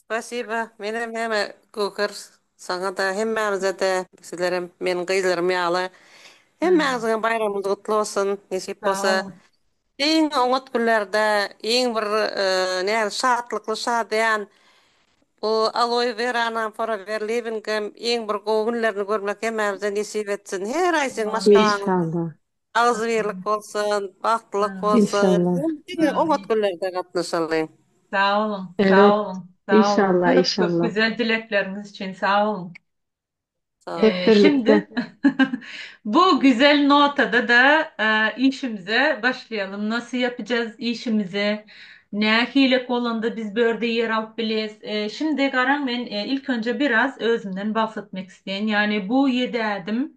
Spasiba menem heme Göker saňada hemmämizede sizlerem meniň gyzlarym ýaly Hemmäňiziň hem baýramyňyz gutly bolsun nesip Sag bolsa boluň. iň oňat günlerde iň bir nädip şatlykly şadyýan bu Aloe Weranyň hem Forever Living hem iň bir gowy günlerini görmek hemmämize nesip etsin her aý seň maşgalaň Enşalla. Agzybirlik bolsun, bagtlylyk bolsun. Inşallah. Diňe diňe oňat günlerde gatnaşaly. Sag boluň, sag Evet. boluň, sag boluň. İnşallah, Köp köp inşallah. güzel dilekleriňiz üçin sag boluň. Sag Hep boluň. Şimdi birlikte. bu güzel notada da e, işimize başlaýalym. Nasıl yapacağız işimizi? Nähili bolanda biz börde yer alyp bileris? E, şimdi garaň men e, ilk önce biraz özümden bahsetmek isteýin. Yani bu 7 ädim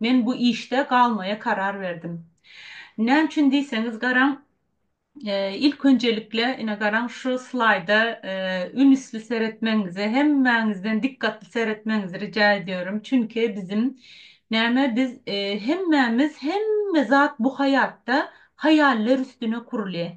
Men bu işde galmaýa karar berdim. Näme üçin diýseňiz, garaň, ilk önjelikle, ine, garaň, şu slaýda ünsli seretmegiňizi, hemmäňizden dikgatly seretmegiňizi rica edýärin. Çünki biziň, näme, biz hemmämiz, hemme zat bu haýatda haýaller üstüne kurulýar.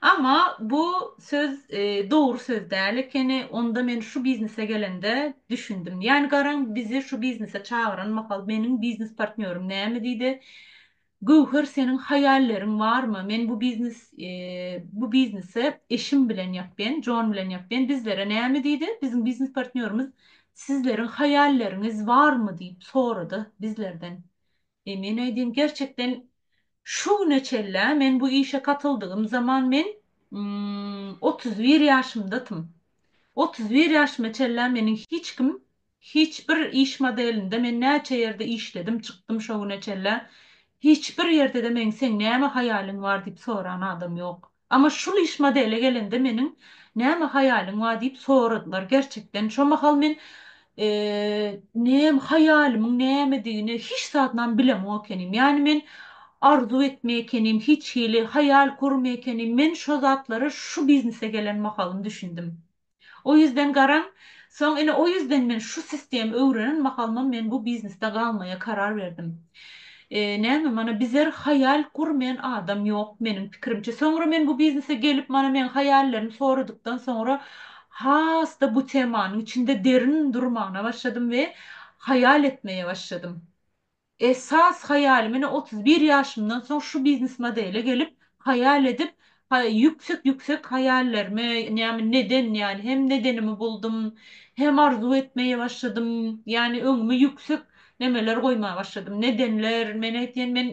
Amma bu söz dogry söz däl ekeni, onda men şu biznese gelende düşündim. Ýani garaň bizi şu biznese çagyran mahal meniň biznes partnýorym näme diýdi, Göwher seniň haýalleriň barmy, men bu biznes bu biznese eşim bilen ýapýan, Jon bilen ýapýan, bizlere näme diýdi, biziň biznes partnýorymyz sizleriň haýalleriňiz barmy diýip sorady bizlerden. E men aýdym gerçekden şu güne çellä men bu işe katyldygym zaman men otuz bir ýaşymdatym. Otuz bir ýaşyma çellä meniň hiç kim hiç bir iş modelinde men näçe ýerde işledim çykdym şo güne çellä hiç bir ýerde-de men seň näme haýalyň bar diýip soran adam ýok. Amma şul iş modele gelende meniň näme haýalyň bar diýip soradylar gerçekden şo mahal men nem haýalymyň nämedigini hiç zadynam bilemok ekenim ýani men arzuw etmek ekenim hiç hili haýal gurmak ekenim men şo zatlara şu biznise gelen mahalym düşündim. O ýüzden garaň, soň ine o ýüzden men şu sistemi öwrenen mahalymam men bu biznesde galmaýa karar berdim. Näme mana bizer haýal gurmaýan adam ýok meniň pikirimçe. Soňra men bu biznese gelip mana meň haýallerimi soradykdan soňra has-da bu temanyň içinde derin durmana başladym we haýal etmeýe başladym. Esas haýaly menä otuz bir ýaşymdan soň şu biznes modele gelip haýal edip ýüksek ýüksek haýallerimi näme neden ýaly hem nedenimi buldum hem arzuw etmeýe başladym ýani öňüme ýüksek nemeler goýma başladym nedenler men aýtýan men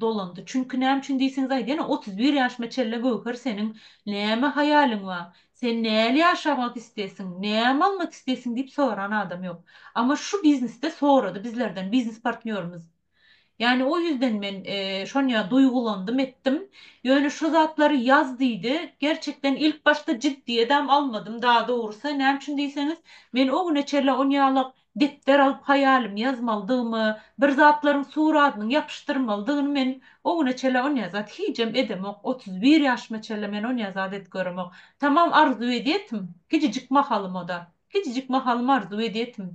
dolandy çünki näme üçin diýseňizaý ýene otuz bir ýaşyma çelle göwher seniň näme haýalyň bar sen näli ýaşamak isteýsiň näme almak isteýsiň diýip soran adam ýok ama şu biznesde sorady bizlerden biznes partnýorymyz ýani o ýüzden men şonýa duýgulandym etdim ýöne şu zatlary ýaz diýdi gerçekden ilk başda jiddiýedem almadym daa dogrusy näme üçin diýseňiz men o güne çelle onýalak Depder alyp haýalymy ýazmalydygymy, bir zatlaryň suradynyň ýapyşdyrmalydygyny men o güne çenli onýa zat hijem edemok, otuz bir ýaşyma çenli men onýa zat edip göremok. Tamam arzuw edýetim, kicijik mahalymada, kicijik mahalym arzuw edýetim.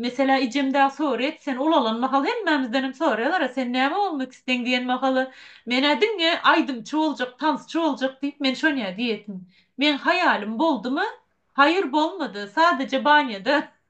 Meselä ejem dag soraýat, sen ulalan mahal hemmämizdenem soraýalara sen näme bolmak isteň diýen mahaly, men-ä diňe aýdymçy boljak, tansçy boljak diýip men şonýa diýetim. Meň haýalym boldumy? Haýyr bolmady, sadeje banýada.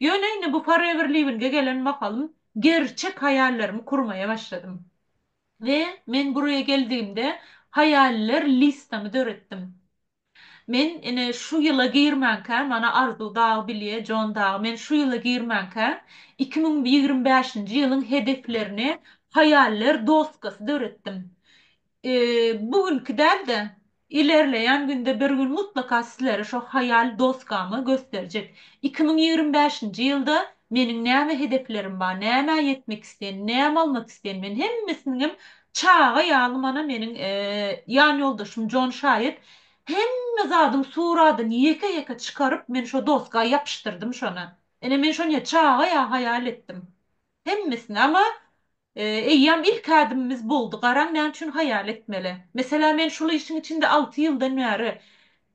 Ýöne indi bu Forever Living-e gelen mahalym gerçek haýallarmy kurmaýa başladym. We men buraya geldigimde haýaller listamy döretdim. Men ine şu ýyla girmänkä, mana Arzuw dagy bilýä, Jon dagy, men şu ýyla girmänkä iki müň ýigrimi bäşinji ýylyň hedeflerini haýaller doskasy döretdim. Eee bu günki däl-de, Ilerleýän günde bir gün mutlaka sizlere şo haýal doskamy gösterjek. Iki müň ýigrimi bäşinji ýylda meniň näme hedeflerim ba, nämä ýetmek isleýän, näme almak isleýän men hemmesiniňem çaga ýaly mana meniň ýanýoldaşym Jon şaýat hemme zadyň suradyny ýeke ýeke çykaryp men şo doska ýapyşdyrdym şony. Ine men şony çaga ýaly haýal etdim. Hemmesini ama Eýýäm ilki ädimimiz boldy, garaň näme üçin haýal etmeli. Meselä men şul işiň içinde alty ýyldan bäri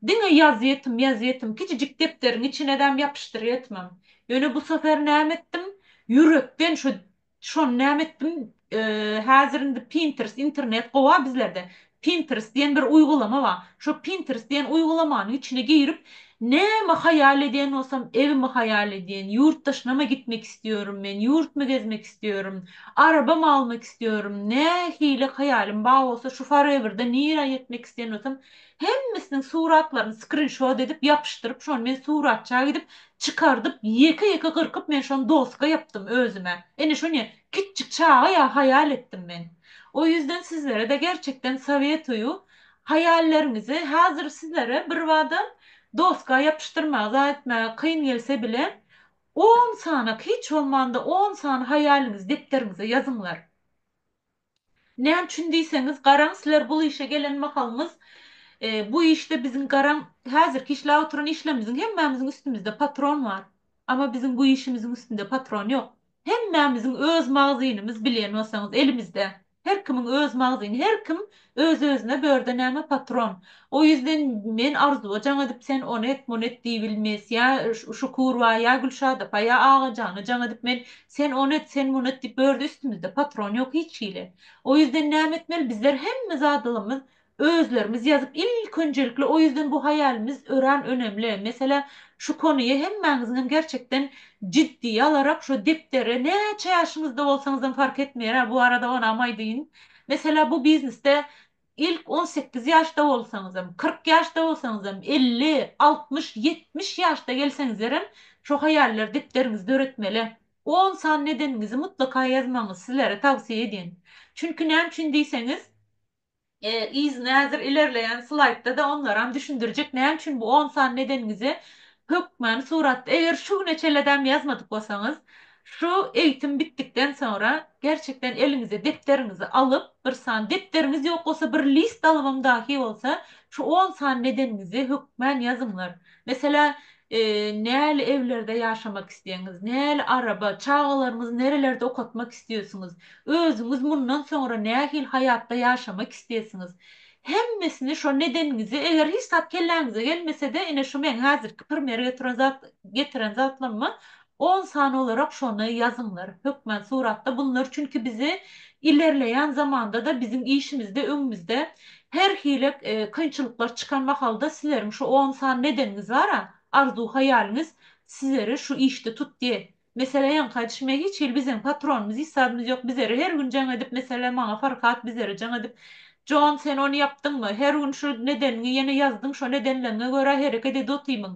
diňe ýazýetm, ýazýetm, kiçijik depderiň içinedäm ýapyşdyrýetmem. Ýöne bu safer näme etdim, ýürekden şu şony näme etdim, häzir indi Pinterest, internet gowa bizlerde, Pinterest diýen bir uýgulama bar. Şo Pinterest diýen uýgulamanyň içine girip, näme haýal edýän bolsam, evimi haýal edýän, ýurt daşynama gitmek isliýorum men, ýurtmy gezmek isliýorum, arabamy almak isliýorum, nähili haýalym bar bolsa, şu forever-de nirä ýetmek isleýän bolsam, hemmesiniň suratlaryny skrinşot edip, ýapyşdyryp, şony men suratçaga gidip, çykardyp, ýeke-ýeke gyrkyp men şony doska ýapdym özüme. Ine şony Kiçjik çaga ýa haýal etdim men. O ýüzden sizlere-de gerçekden sowetoýu haýalleriňizi hazir sizlere birbada doska ýapyşdyrmagy zat etmäge kyn gelse bile on sanak hiç bolmanda on sany haýalyňyzy depderiňize ýazyňlar. Näme üçin diýseňiz garaň sizler bul işe gelen mahalyňyz bu işde biziň garaň hazirki işläp oturan işlerimiziň hemmämiziň üstümizde patron bar. Ama biziň bu işimiziň üstünde patron ýok. Hemmämiziň öz magazynymyz bilýän bolsaňyz elimizde her kimiň öz magazyny her kim öz özüne börde näme patron o ýüzden men arzuwa jaň edip sen ony et muny et diýbilmes ýa şukurwa ýa gülşadapa ýa agajana jaň edip men sen ony et sen muny et diýip börde üstümizde patron ýok hiç hili o ýüzden näme etmeli bizler hemme zadylymyz Özlerimiz ýazyp ilk önjelikli o ýüzden bu haýalimiz öran önemli mesele şu konuýa hemmäňiziňem gerçekden jiddiýe alarak şu depdere näçe ýaşyňyzda bolsaňyzam fark etmeýär bu arada onam aýdyýyn mesele bu biznesde ilk on sekiz ýaşda bolsaňyzam kyrk ýaşda bolsaňyzam elli altmyş ýetmiş ýaşda gelseňizlerem şu haýallar depderiňizi döretmeli on san nedeniňizi mutlaka ýazmagyňyzy sizlere tawsyýe edýän çünki näme üçin diýseňiz Yzyna häzir ilerleýän slaýdda-da onlaram düşündirjek näme üçin bu on sany nedeniňizi hökmany suratda eger şu güne çelledäm ýazmadyk bolsaňyz şu eýitim bitdikden soňra gerçekden eliňize depderiňizi alyp bir sany depderiňiz ýok bolsa bir list alybam dahi bolsa şu on sany nedeniňizi hökmän ýazyňlar Meselem, näli ewlerde ýaşamak isleýäňiz, näli araba, çagalaryňyzy nerelerde okatmak isleýsiňiz, özüňiz mundan soňra nähili haýatda ýaşamak isleýsiňiz, hemmesini şo nedeniňizi, eger hiç zat kelläňize gelmese-de, ine şu meň häzirki pirmere getiren zatlaryma On sany olarak şony ýazyňlar hökmän suratda bunlar çünki bizi ilerleýän zamandada biziň işimizde öňümizde her hili kynçylyklar çykan mahalda sizleriň şu on sany nedeniňiz bara arzuw haýalyňyz sizleri şu işde tutdy mesele ýaňy haýdyş me hiç hili bizeň patronymyz isabymyz ýok bizleri her gün jaň edip mesele maňa farhat bizleri jaň edip Jon sen ony ýapdyňmy her gün şu nedeniňi ýene ýazdyň şo nedenleňňe görä hereket edotymyň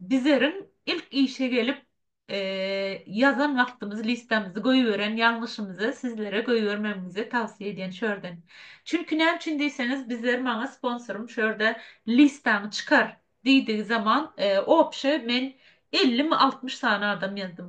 Bizeriň ilk işe gelip ýazan wagtymyz listamyzy goýberen ýalňyşymyzy sizlere goýbermegimizi tawsiýe edýän şu ýerden. Çünki näme üçin diýseňiz bizler maňa sponsorym şu ýerde listaňy çykar diýdigi zaman obşe men ellimi altmyş sany adam ýazdym.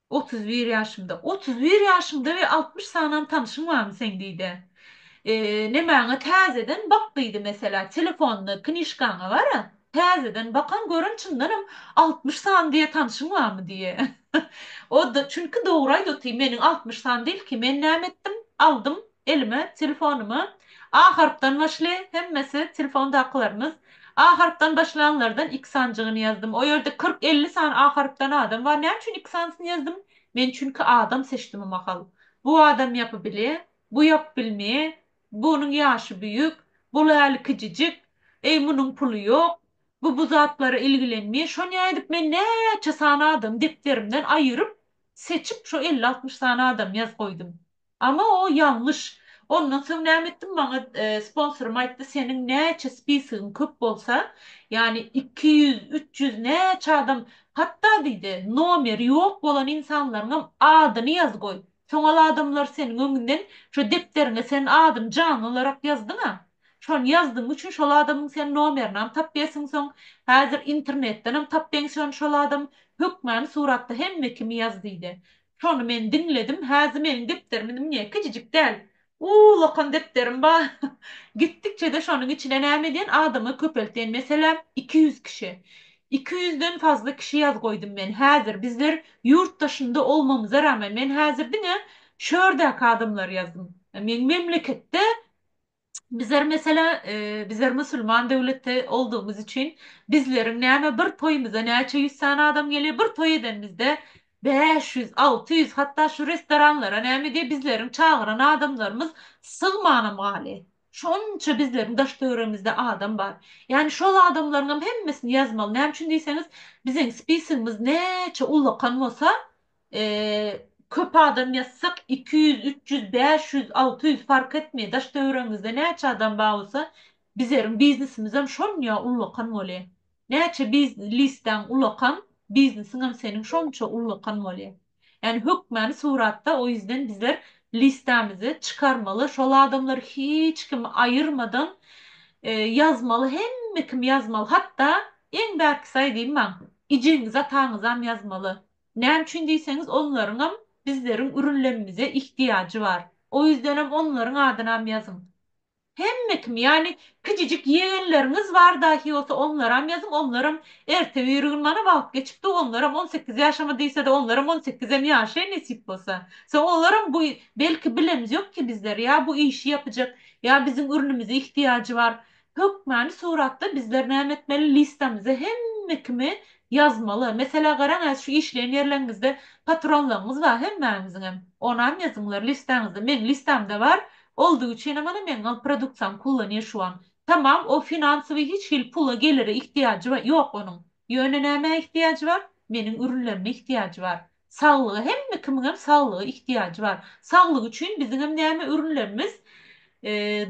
Otuz bir ýaşymda. Otuz bir ýaşyňda we altmyş sanam tanyşyň barmy seň diýdi. Nemäňe täzeden bak diýdi meselä telefonyňa knişkaňa gara täzeden bakan gören çyndanam altmyş san diýe tanyşyň barmy diýe. O çünki dogry aýdaty meniň altmyş san dil ki men näme etdim aldym elime telefonyma A harpdan başly hemmesi telefondakylarymyz A harpdan başlanlardan iki sanjygyny ýazdym o ýerde kyrk elli sany A harpdan adam bar näme üçin iki sanysyny ýazdym men çünki adam seçdim o mahal bu adam ýapy bile bu ýap bilme bunyň ýaşy büýük bul äli kijijik eý munyň puly ýok bu bu zatlara ilgilenme şonýa edip men näçe sany adamy depderimden aýyryp seçip şo elli altmyş sany adam ýaz goýdum. Ama o ýalňyş. Ondan soň näme etdim maňa sponsorym aýtdy seniň näçe spisigiň köp bolsa ýani iki ýüz üç ýüz näçe adam hatda diýdi nomeri ýok bolan insanlaryňam adyny ýaz goý soňal adamlar seniň öňünden şo depderiňe sen adyny janly olarak ýazdyň a şony ýazdygyň üçin şol adamyň sen nomerinam tap ýersiň soň häzir internetdenem tap beň şony şol adam hökmany suratda hemme kimi ýaz diýdi Şony men diňledim häzi meniň depderim muňa kijijik däl uul okan depderim ba gitdikçede şonuň içine näme edýän adama köpeltýän meselem iki ýüz kişi iki ýüzden fazla kişi ýaz goýdum men häzir bizler ýurt daşynda olmamyza ramen men häzir diňe şördäki adamlary ýazdym meň memleketde Bizler meselä, bizler musulman döwletde oldugymyz üçin bizleriň näme bir toýumyza näçe ýüz sany adam gelýär, bir toý edenimizde bäş ýüz, alty ýüz hatda şu restoranlara näme diýýär bizleriň çagyran adamlarymyz sygmanam galy. Şonça bizleriň daş töweregimizde adam bar. Ýani şol adamlaryňam hemmesini ýazmaly. Näme üçin diýseňiz, biziň spisigimiz näçe ulakan bolsa, Köp adam ýatsak, iki ýüz, üç ýüz, bäş ýüz, alty ýüz fark etmeýär. Daş-töweregiňizde näçe adam bar bolsa, bizleriň biznesimizem şonýa ullakan bolýar. Näçe bizlistäň ullakan, biznesiňem seniň şonça ullakan bolýar. Ýani hökmany suratda, o ýüzden bizler listamizi çykarmaly, şol adamlary hiç kim aýyrmadan ýazmaly, hemme kim ýazmaly. Hatda, iň bärkisi aýdyň maň, ijeňizi-ataňyzam ýazmaly. Näme üçin diýseňiz, onlaryňam bizleriň ürünlemimize ihtiýajy bar. O ýüzdenem onlaryň adynam ýazyň. Hemme kim, ýagny kijijik ýegenleriňiz bar dahi bolsa onlaram ýazyň, onlaram erte biri gün mana wagt geçipdi, onlaram on sekiz ýaşama diýsede, onlaram on sekizem ýaşaýyn nesip bolsa. Soň olaram bu belki bilemiz ýok ki bizler ýa bu işi ýapyjak, ýa biziň ürünimize ihtiýajy bar. Hökmany suratda bizler näme etmeli? Listamyza hemme kimi ýazmaly. Meselä garaň häzir şu işleýän ýerleriňizde patronlaryňyz bar hemmäňiziňem. Onam ýazyňlar listaňyzda. Meň listamda bar. Oldy üçinem mana meň gal produksiýamy kullanýar şu an. Tamam o finansowy hiç hili pula gelire ihtiýajy ýok onuň. Ýöne nämä ihtiýajy bar? Meniň ürünlerime ihtiýajy bar. Saglyga hemme kimiňem saglyga ihtiýajy bar. Saglyk üçin biziňem näme ürünlerimiz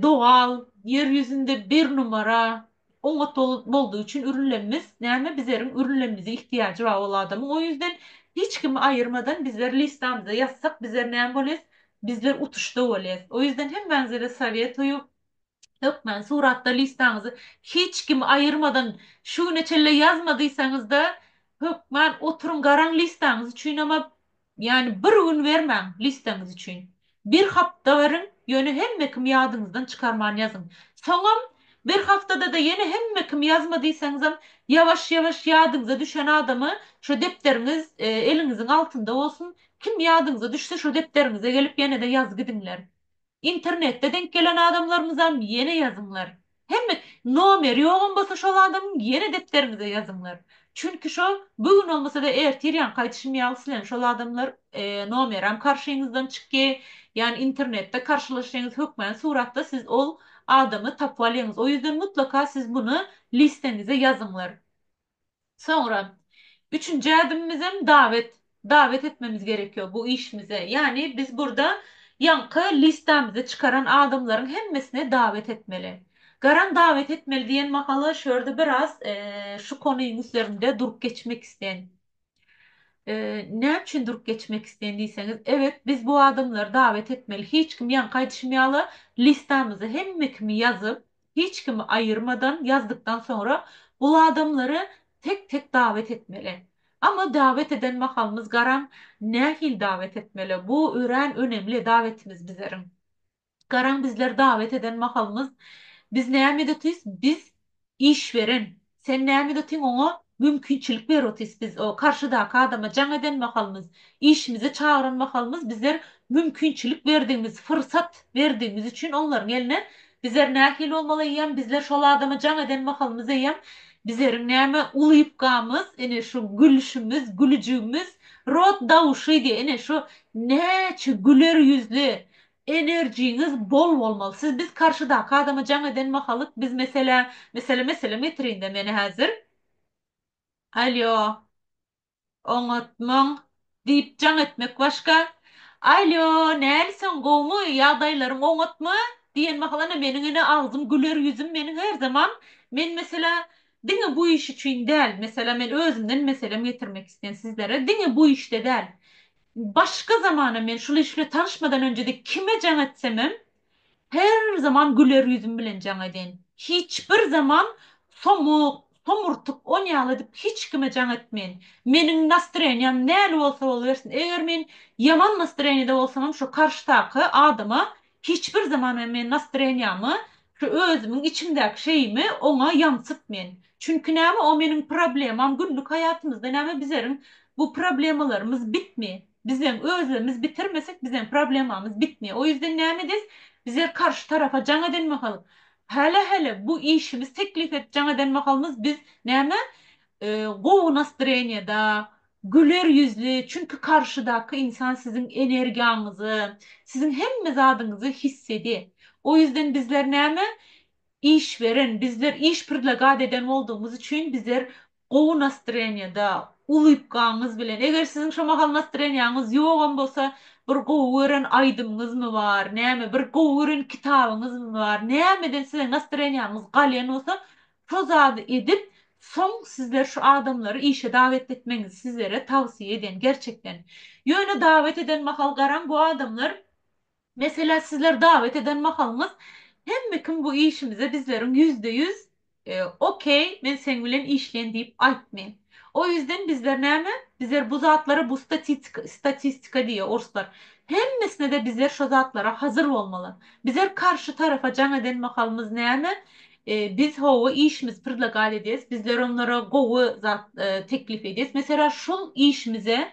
dogal ýer ýüzünde bir numara oňat boldugy üçin ürünlerimiz näme bizeriň ürünlerimize ihtiýajy bar ol adamyň o ýüzden hiç kimi aýyrmadan bizler listamyza ýazsak bizler näme bolýas bizler utuşda bolýas o ýüzden hemmäňizede sowetoýu Hökmän suratda listaňyzy hiç kimi aýyrmadan şu güne çenli ýazma diýseňizde hökmän oturyň garaň listaňyz üçin emma ýani bir gün bermäň listaňyz üçin bir hapta beriň ýöne hemme kim ýadyňyzdan çykarman ýazyň soňam bir haftada-da ýene hemme kim ýazma diýseňizem ýawaş ýawaş ýadyňyza düşen adamy şo depderiňiz eliňiziň altynda bolsun kim ýadyňyza düşse şo depderiňize gelip ýenede ýazgidiňler Internetde denk gelen adamlarymyzam ýene ýazyňlar. Hemme nomeri ýogam bolsa şol adamyň ýene depderiňize ýazyňlar. Çünki şo bu gün bolmasada ertir ýaňky aýdyşym ýaly sileň şol adamlar nomeram karşyňyzdan çykýy ýani internetde karşylaşýyňyz hökmany suratda siz ol adamy tapyp alýyňyz o ýüzden mutlaka siz muny listeňize ýazyňlar. Soňra, üçünji ädimimizem dawet. Dawet etmemiz gerek ýok bu işimize. Ýagny biz burda ýaňky listamyzda çykaran adamlaryň hemmesine dawet etmeli. Garan dawet etmeli diýen mahaly şu ýerde biraz şu konyň üstlerinde durup geçmek isleýän. Näme üçin durup geçmek isleýin diýseňiz, evet, biz bu adamlary dawet etmeli. Hiç kim ýaňky aýdyşym ýaly listamyzy hemme kimi ýazyp, hiç kimi aýyrmadan ýazdykdan soňra bu adamlary tek-tek dawet etmeli. Amma dawet eden mahalymyz garaň, nähili dawet etmeli? Bu örän önemli dawetimiz bizleriň. Garaň bizler dawet eden mahalymyz biz näme edotys biz iş beren sen näme edotyň oňa mümkinçilik berotys biz o karşydaky adama jaň eden mahalymyz işimize çagyran mahalymyz bizler mümkinçilik berdigimiz fyrsat berdigimiz üçin onlaryň eline bizler nähili bolmaly eýýäm bizler şol adama jaň eden mahalymyz eýýäm bizleriň näme ulypkamyz ine şu gülşümiz gülüjigimiz rot dawşydy ine şu näçe güler ýüzli Enerjiňiz bol bolmaly siz biz karşydaky adama jaň eden mahalyk biz meselä meselä meselem getirinde meni hazir Alýo oňatmaň diýip jaň etmek başga Alýo näli sen gowmy ýagdaýlaryň oňatmy diýen mahal ana meniň ene agzym güler ýüzüm meniň her zaman men meselä diňe bu iş üçin däl meselä men özümden meselem getirmek isleýän sizlere diňe bu işde däl Başga zamana men şul iş bilen tanyşmadan önjede kime jaň etsemem her zaman güler ýüzüm bilen jaň edin. Hiç bir zaman somuk, somurtyk on ýaly edip hiç kime jaň etmeýin. Meniň nastroýeniýam näli bolsa bolubersin. Eger men ýaman nastroýeniýede bolsamam şo karşydaky adama Hiç bir zaman men men nastreniýamy, şu özümiň içimdäki şeyimi oňa ýaňsyt men. Çünki näme o meniň problemam günlük haýatymyzda näme bizeriň bu problemalarymyz bitmi? Bizem özlemiz bitirmesek bizem problemamyz bitmi? O ýüzden näme edis bizer karşy tarafa jaň eden mahal hälä hälä bu işimiz teklip et jaň eden mahalymyz biz näme gowy nastreniýada Güler ýüzli, çünki karşydaky ynsan siziň energiýaňyzy, siziň hemme zadyňyzy hiss edi. O ýüzden bizler näme iş beren, bizler iş predlagat eden boldugymyz üçin bizler gowy nastreniýada, ulybkaňyz bilen, eger siziň şo mahal nastreniýaňyz ýogam bolsa, bir gowy gören aýdymyňyzmy bar, näme, bir gowy gören kitabyňyzmy bar, nämeden size nastreniýaňyz galýan bolsa, Tozaz edip soň sizler şu adamlary işe dawet etmeňiz sizlere tawsiýe edýän gerçekden. Ýöne dawet eden mahal garaň bu adamlar meselä sizler dawet eden mahalyňyz hemme kim bu işimize bizleriň ýüzde ýüz ok men seň bilen işleýin diýip aýtmy. O ýüzden bizler näme bizler bu zatlara bu statitika statistika diýýär orslar hemmesine-de bizler şo zatlara hazyr bolmaly. Bizler karşy tarafa jaň eden mahalymyz näme Biz hawa işimiz prdlagal edýäs, bizler onlara gowy zat teklip edýäs. Meselä şul işimize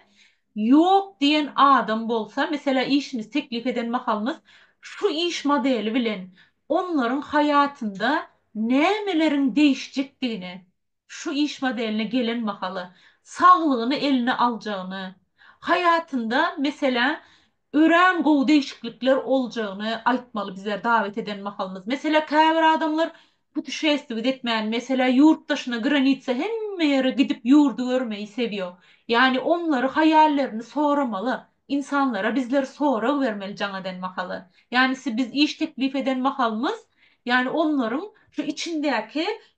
ýok diýen adam bolsa, meselä işimiz teklip eden mahalymyz şu iş modeli bilen onlaryň haýatynda nämeleriň deýişjekdigini, şu iş modeline gelen mahaly saglygyny eline aljagyny, haýatynda, meselä, örän gowy degişiklikler oljagyny aýtmaly bize dawet eden mahalymyz. Meselä, käbir adamlar putuşestwiýt etmäni, meselä, ýurt daşyna, granitsa, hemme ýere gidip ýurdy görmeýi sevýo. Ýani onlary haýallerini soramaly, insanlara bizler sorag bermeli jaň eden mahaly. Ýanisi biz iş teklip eden mahalymyz, ýani onlaryň şu içindäki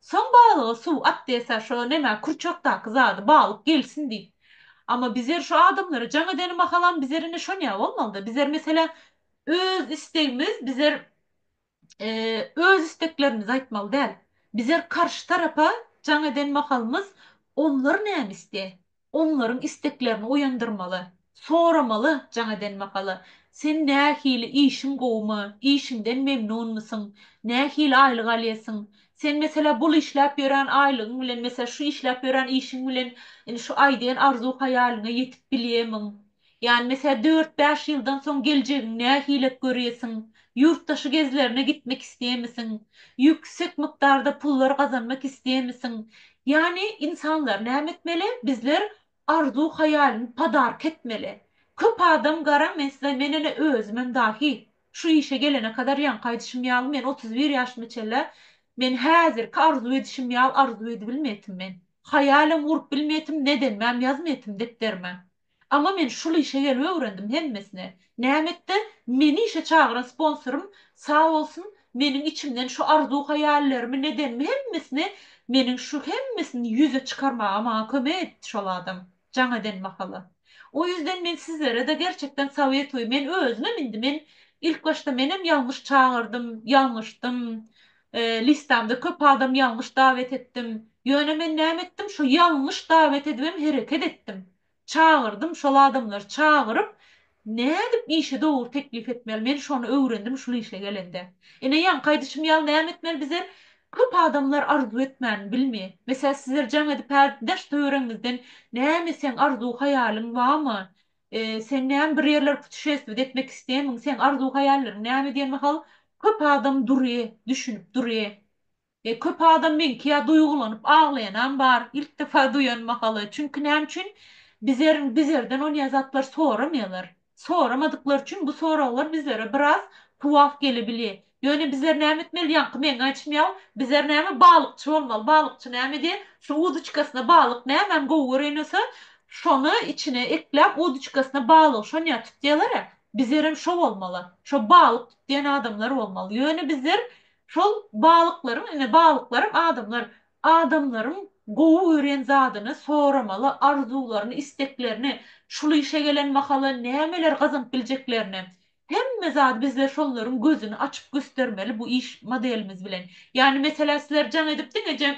Soň balyga suw at desa şo neme kurçakdaky zady balyk gelsin diýip. Ama bizer şo adamlara jaň edeni mahalam bizer ine şonýa bolmalyda bizer meselem öz istegimiz bizer öz isteklerimizi aýtmaly däl. Bizer karşy tarapa jaň eden mahalymyz onlar name isle Onlaryň isteklerini oýandyrmaly. Soramaly, jaň eden mahaly, Sen nähili, işiň gowumy, işiňden memnunmysyň, nähili aýlyk alýasyň? Sen meselä bul işläp ýören aýlygyň bilen, meselä şu işläp ýören işiň bilen indi şu aýdýan arzuw-haýalyňa ýetip bilýämiň? Ýani mesä dört-bäş ýyldan soň geljegiň nähilek görýesiň? Ýurtdaşy gezlerine gitmek isleýemisiň? Ýüksek mukdarda pullar gazanmak isleýemisiň? Ýani insanlar näme etmeli? Bizler arzuw haýalyny padarka etmeli. Köp adam garaň men size men ene özümem dahi şu işe gelene kadar ýaňky aýdyşym ýaly men otuz bir ýaşyma çenla men häzirki arzuw edişim ýaly arzuw edibilmeýtim men. Haýalem gurup bilmeýtim nedenmem ýazmeýtim depderime. Amma men şul işe gelip öwrendim hemmesini. Nämetde meni işe çagyran sponsorym sag bolsun meniň içimden şu arzuw haýallerimi nedenimi hemmesini meniň şu hemmesini ýüze çykarmaga maňa kömek etdi şol adam jaň eden mahaly. O ýüzden men sizlerede gerçekden sowetoýy men özümem indi men ilk başda menem ýalňyş çagyrdym ýalňyşdym Listamda köp adam ýalňyş dawet etdim. Ýöne men näme etdim şo ýalňyş dawet edibem hereket etdim. Çagyrdym şol adamlary çagyryp nädip işi dogry teklip etmeli men şony öwrendim şul işe gelende. Ine ýaňky aýdyşym ýaly näme etmeli bizler köp adamlar arzuw etmän bilmi. Meselä sizler jaň edip häzir daş töwereňizden näme etseň arzuw haýalyň bamy Sen näme bir ýerler putuşestwet etmek isleýämiň? Seň arzuw-haýallaryň näme diýen mahal köp adam durýy, düşünip durýy. E, köp adam meňki ýa duýgulanyp aglaýanam bar, ilk defa duýan mahaly. Çünki näme üçin? Bizer, bizerden onýa zatlar soramaýarlar. Soramadyklary üçin bu soraglar bizlere biraz tuwaf gelebilýär. Ýöne bizler näme etmeli ýaňky meňňe açmýaw bizler näme balykçy bolmaly balykçy näme diýe şu uduçkasyna balyk nämäni gowy gören bolsa şony içine ekläp uduçkasyna balygy şonýa tutýalara bizlerem şo bolmaly şo balyk tutýan adamlar bolmaly ýöne bizler şol balyklaryň ine balyklaram adamlar adamlaryň gowy gören zadyny soramaly arzuwlaryny isteklerini şul işe gelen mahaly nämeler gazanyp biljeklerini Hemme zady bizler şollaryň gözüni açyp göstermeli bu iş modelimiz bilen. Ýani meselä sizler jaň edip diňeje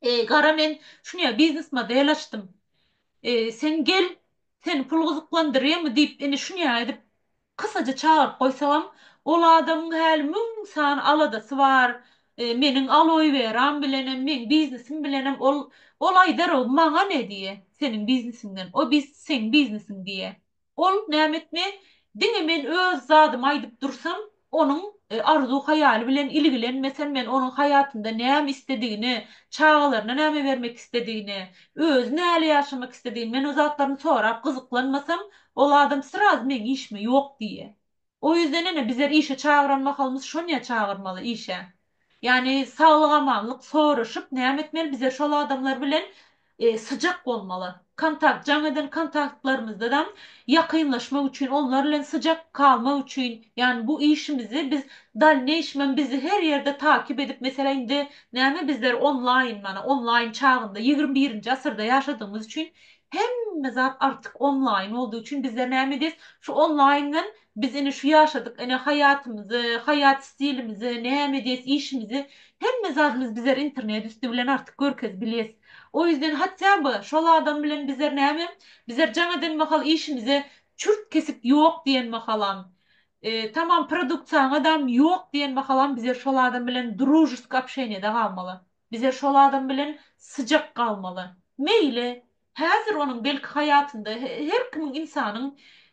eý gara men şunýa biznes model açdym. Sen gel seni pul gyzyklandyrýamy diýip indi şunýa edip kysaja çagyryp goýsagam ol adamyň häli müň sany aladasy bar. Meniň aloe weram bilenem meň biznesim bilenem ol ol aýdar o maňa ne diýe seniň biznesiňden o biz seň biznesiň diýe. Ol näme etme, diňe men öz zadymy aýdyp dursam, onuň arzuw-haýaly bilen ilgilenmesem, men onuň haýatynda näme isledigini, çagalaryna näme bermek isledigini, özi näle ýaşamak isledigini, men o zatlaryny sorap gyzyklanmasam, ol adam sraz meň işime ýok diýýä. O ýüzden ene bizler işe çagyran mahalymyz şonýa çagyrmaly işe. Ýani saglyk amanlyk soraşyp näme etmeli bizler şol adamlar bilen syjak bolmaly. Kontakt jaň eden kontaktlarymyzdanam ýakynlaşmak üçin onlar bilen syjak galmak üçin ýani bu işimizi biz dalneýşmem bizi her ýerde takip edip meselä indi näme bizler onlaýyn mana onlaýyn çagynda ýigrimi birinji asyrda ýaşadygymyz üçin Hemme zat artyk onlaýyn boldy üçin bizler näme edýäs? Şu onlaýyndan biz ine şu ýaşadyk ine haýatymyzy, haýat stilimizi, näme edýäs işimizi hemme zadymyz bizler internet üsti bilen artyk görkezip bilýäs. O ýüzden hatýaby şol adam bilen bizler näme? Bizler jaň eden mahal işimize çürt kesik ýok diýen mahalam, tamam produktsiýaňadam ýok diýen mahalam bizler şol adam bilen družesk obşeniýada galmaly. Bize şol adam bilen syjak galmaly. Meýli, häzir onuň belki haýatynda her kimiň ynsanyň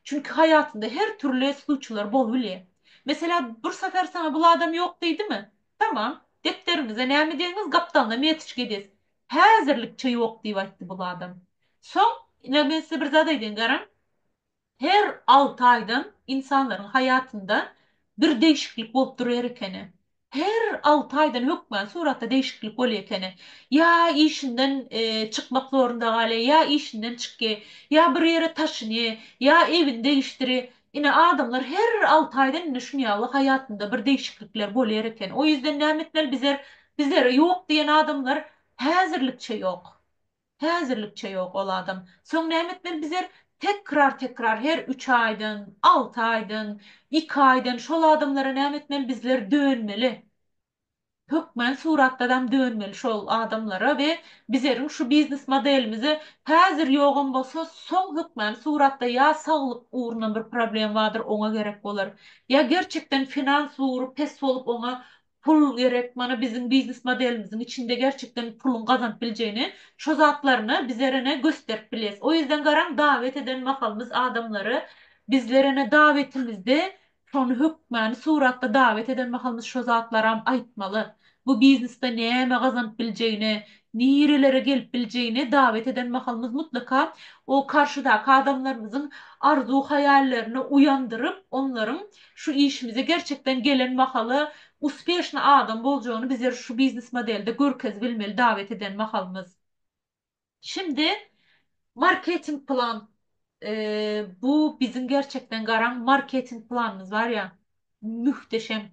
çünki haýatynda her türli sluçylar bolubilýär. Meselä bir safer saňa bul adam ýok diýdimi? Tamam, depderiňize näme diýeniňiz gapdalyna metiçka edýäs. Häzirlikçe ýok diýip aýtdy bul adam. Soň, ine men size bir zat aýdaýyn garaň. Her alty aýdan ynsanlaryň haýatynda bir degişiklik bolup durýar ekeni. Her alty aýdan hökmany suratda degişiklik bolýar ekeni. Ýa işinden çykmak zorunda galýar, ýa işinden çykýar, ýa bir ýere taşynýar, ýa ewini degişdirýär. Ine, adamlar her alty aýdan indi şun ýaly haýatynda bir degişiklikler bolýar ekeni. O ýüzden näme etmeli? Bizler, bizlere ýok diýen adamlar häzirlikçe ýok. Häzirlikçe ýok ol adam. Soň näme etmeli bizer? Tekrar tekrar her üç aýdan, alty aýdan, iki aýdan şol adamlara näme etmeli bizler dönmeli. Hökmän suratdadam dönmeli şol adamlara we bizeriň şu biznes modelimize häzir ýogam bolsa soň hökmän suratda ýa saglyk ugrundan bir problem badyr oňa gerek bolar. Ýa gerçekden finans ugry pes bolup oňa Pul gerek mana biziň biznes modelimiziň içinde gerçekden puluň gazanyp biljegini şo zatlaryny bizerene gösterip bilýäs. O ýüzden garaň dawet eden mahalymyz adamlary bizlerene dawetimizde şony hökmany suratda dawet eden mahalymyz şo zatlaram aýtmaly. Bu biznesde näme gazanyp biljegini, nirelere gelip biljegini dawet eden mahalymyz mutlaka o karşydaky adamlarymyzyň arzuw haýallerini uýandyryp onlaryň Şu işimize gerçekden gelen mahaly uspeşny adam boljagyny bizer şu biznes modelde görkez bilmeli dawet eden mahalymyz. Şimdi marketing plan bu biziň gerçekden garaň marketing planymyz bar ya mühteşem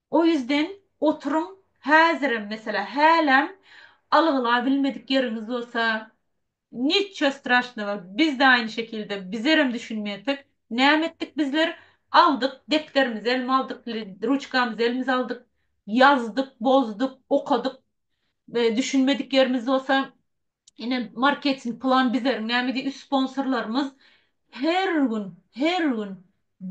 O ýüzden oturyň häzirem meselä häläm algylap bilmedik ýeriňiz bolsa niço strashnogo biz de aýny şekilde bizerem düşünmedik näme etdik bizler aldyk depderimizi elime aldyk ruçkamyzy elimize aldyk ýazdyk bozdyk okadyk düşünmedik ýerimiz bolsa Ine marketing plan bizleriň näme diýip sponsorlarymyz her gün her gün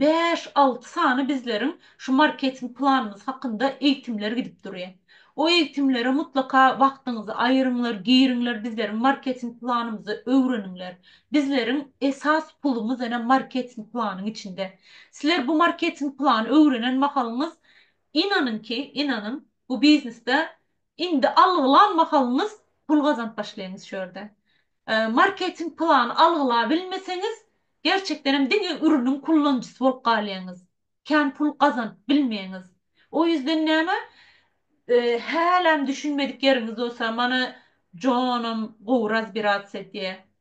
bäş alty sany bizleriň şu marketing planymyz hakynda eýitimler gidip durýa. O eýitimlere mutlaka wagtyňyzy aýyryňlar giriňler bizleriň marketing planymyzy öwreniňler. Bizleriň esas pulumyz ene marketing planyň içinde. Sizler bu marketing plany öwrenen mahalyňyz inanyňki inanyň bu biznesde Indi algylan mahalyňyz pul gazanyp başlaýyňyz şu ýerde. Marketing plany algylabilmeseňiz, gerçekdenem diňe ürüniň kullanjysy bolup galýaňyz. Kän pul gazanyp bilmeýäňiz. O ýüzden näme, hälem düşünmedik ýeriňiz bolsa, mana Jonam gowy razbirats edýär.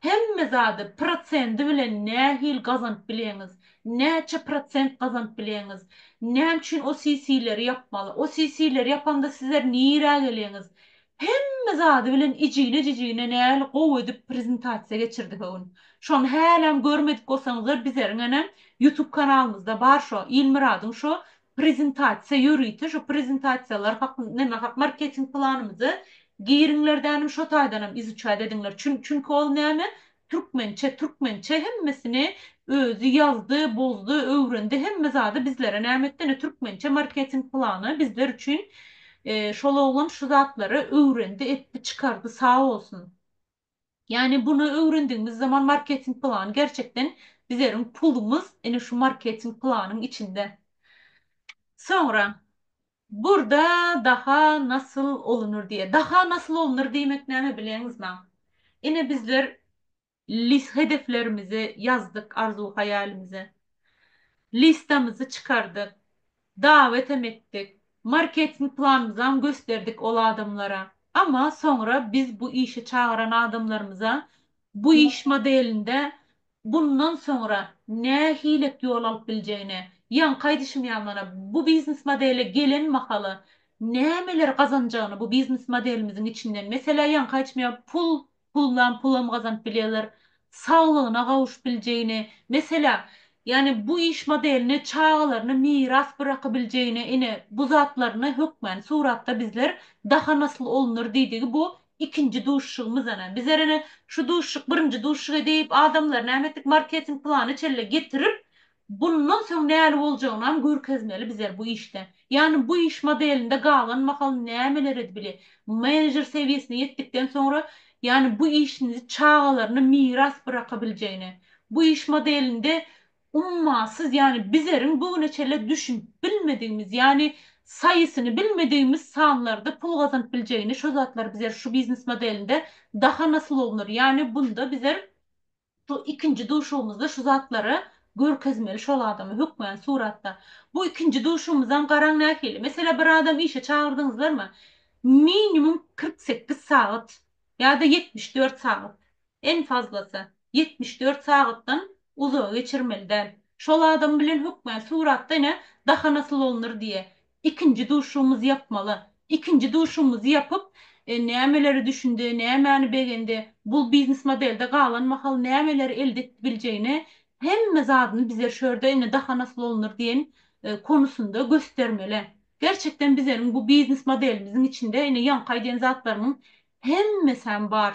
Hemme zady prosendi bilen nähili gazanyp bilýäňiz? Näçe prosent gazanyp bilýäňiz? Näme üçin o CC-leri ýapmaly? O CC-leri ýapanda sizler nirä gelýäňiz? Hemme zady bilen ijine-jijine nähili gowy edip prezentasiýa geçirdi höwün. Şony hälem görmedik bolsaňyzlar bizeriň ene YouTube kanalymyzda bar şo Ilmyradyň şo Prezentasiýa ýörite şu prezentasiýalar hakyn neme hak marketing planymyzy giriňler dänim şo taýdanam izuçaýt ediňler çün çünki ol näme türkmençe türkmençe hemmesini özi ýazdy bozdy öwrendi hemme zady bizlere näme etdi ine türkmençe marketing plany bizler üçin şol oglan şu zatlary öwrendi etdi çykardy sag bolsun. Ýagny bunu öwrendigimiz zaman marketing plany gerçekden bizerin pulumyz ine şu marketing planyň içinde. Soňra burda daha nasyl olunur diýe. Daha nasyl olunur diýmek näme bileňizma? Ine bizler lis hedeflerimizi ýazdyk arzuw haýalimize. Listamyzy çykardyk. Dawetem etdik. Marketing planymyzam gösterdik ol adamlara. Ama soňra biz bu işe çagyran adamlarymyza bu iş modelinde bundan soňra nähilek ýol alyp biljegini, ýaňky aýdyşym ýaly mana bu biznes modele gelen mahaly nämeler gazanjagyny bu biznes modelimiziň içinden, meselä ýaňky aýdyşym ýaly pul pullan pulam gazanyp bilýärler, saglygyna gawuşyp biljegini, meselä, ýagny bu iş modelini çagalaryna miras bırakybiljegini, ine, bu zatlaryny hökmany suratda bizler daha nasyl olunur diýdigi bu ikinji duşuşygymyz ene. Bizler ene şu duşuşyk birinji duşuşyk edip, adamlar näme etdik, marketing plany çelle getirip, Bundan soň näli boljagynam görkezmeli bizer bu işde. Ýagny bu iş modelinde galan mahal nämeler edbili? Menejer sewiýesine ýetdikden soňra, ýagny bu işini çagalaryna miras byrakabiljegini. Bu iş modelinde ummasyz, ýagny bizeriň bu güne çenli düşünip bilmedigimiz, ýagny saýysyny bilmedigimiz sanlarda pul gazanyp biljegini, şo zatlar bizer şu biznes modelinde daha naslownyr. Ýagny bunda bizer Şu ikinji duşugymyzda şu zatlary görkezmeli şol adama hökmany suratda. Bu ikinji duşugymyzam garaň nähili. Meselä bir adam işe çagyrdyňyzlarmy? Minimum kyrk sekiz sagat ýa-da ýetmiş dört sagat. En fazlasy. Ýetmiş dört sagatdan uzagy geçirmeli däl. Şol adam bilen hökmany suratda ine daha nasyl olunur diýe. Ikinji duşugymyzy ýapmaly. Ikinji duşugymyzy ýapyp, nämeleri düşündi, nämäni begendi, bul biznes modelde galan mahal nämeleri elde edip biljegini, hemme zadyny bize şu ýerde indi daha nasl olunur diýen konusynda göstermeli. Gerçekden bizeniň bu biznes modelimiziň içinde indi ýaňky aýdýan zatlarymyň hemmesäm bar.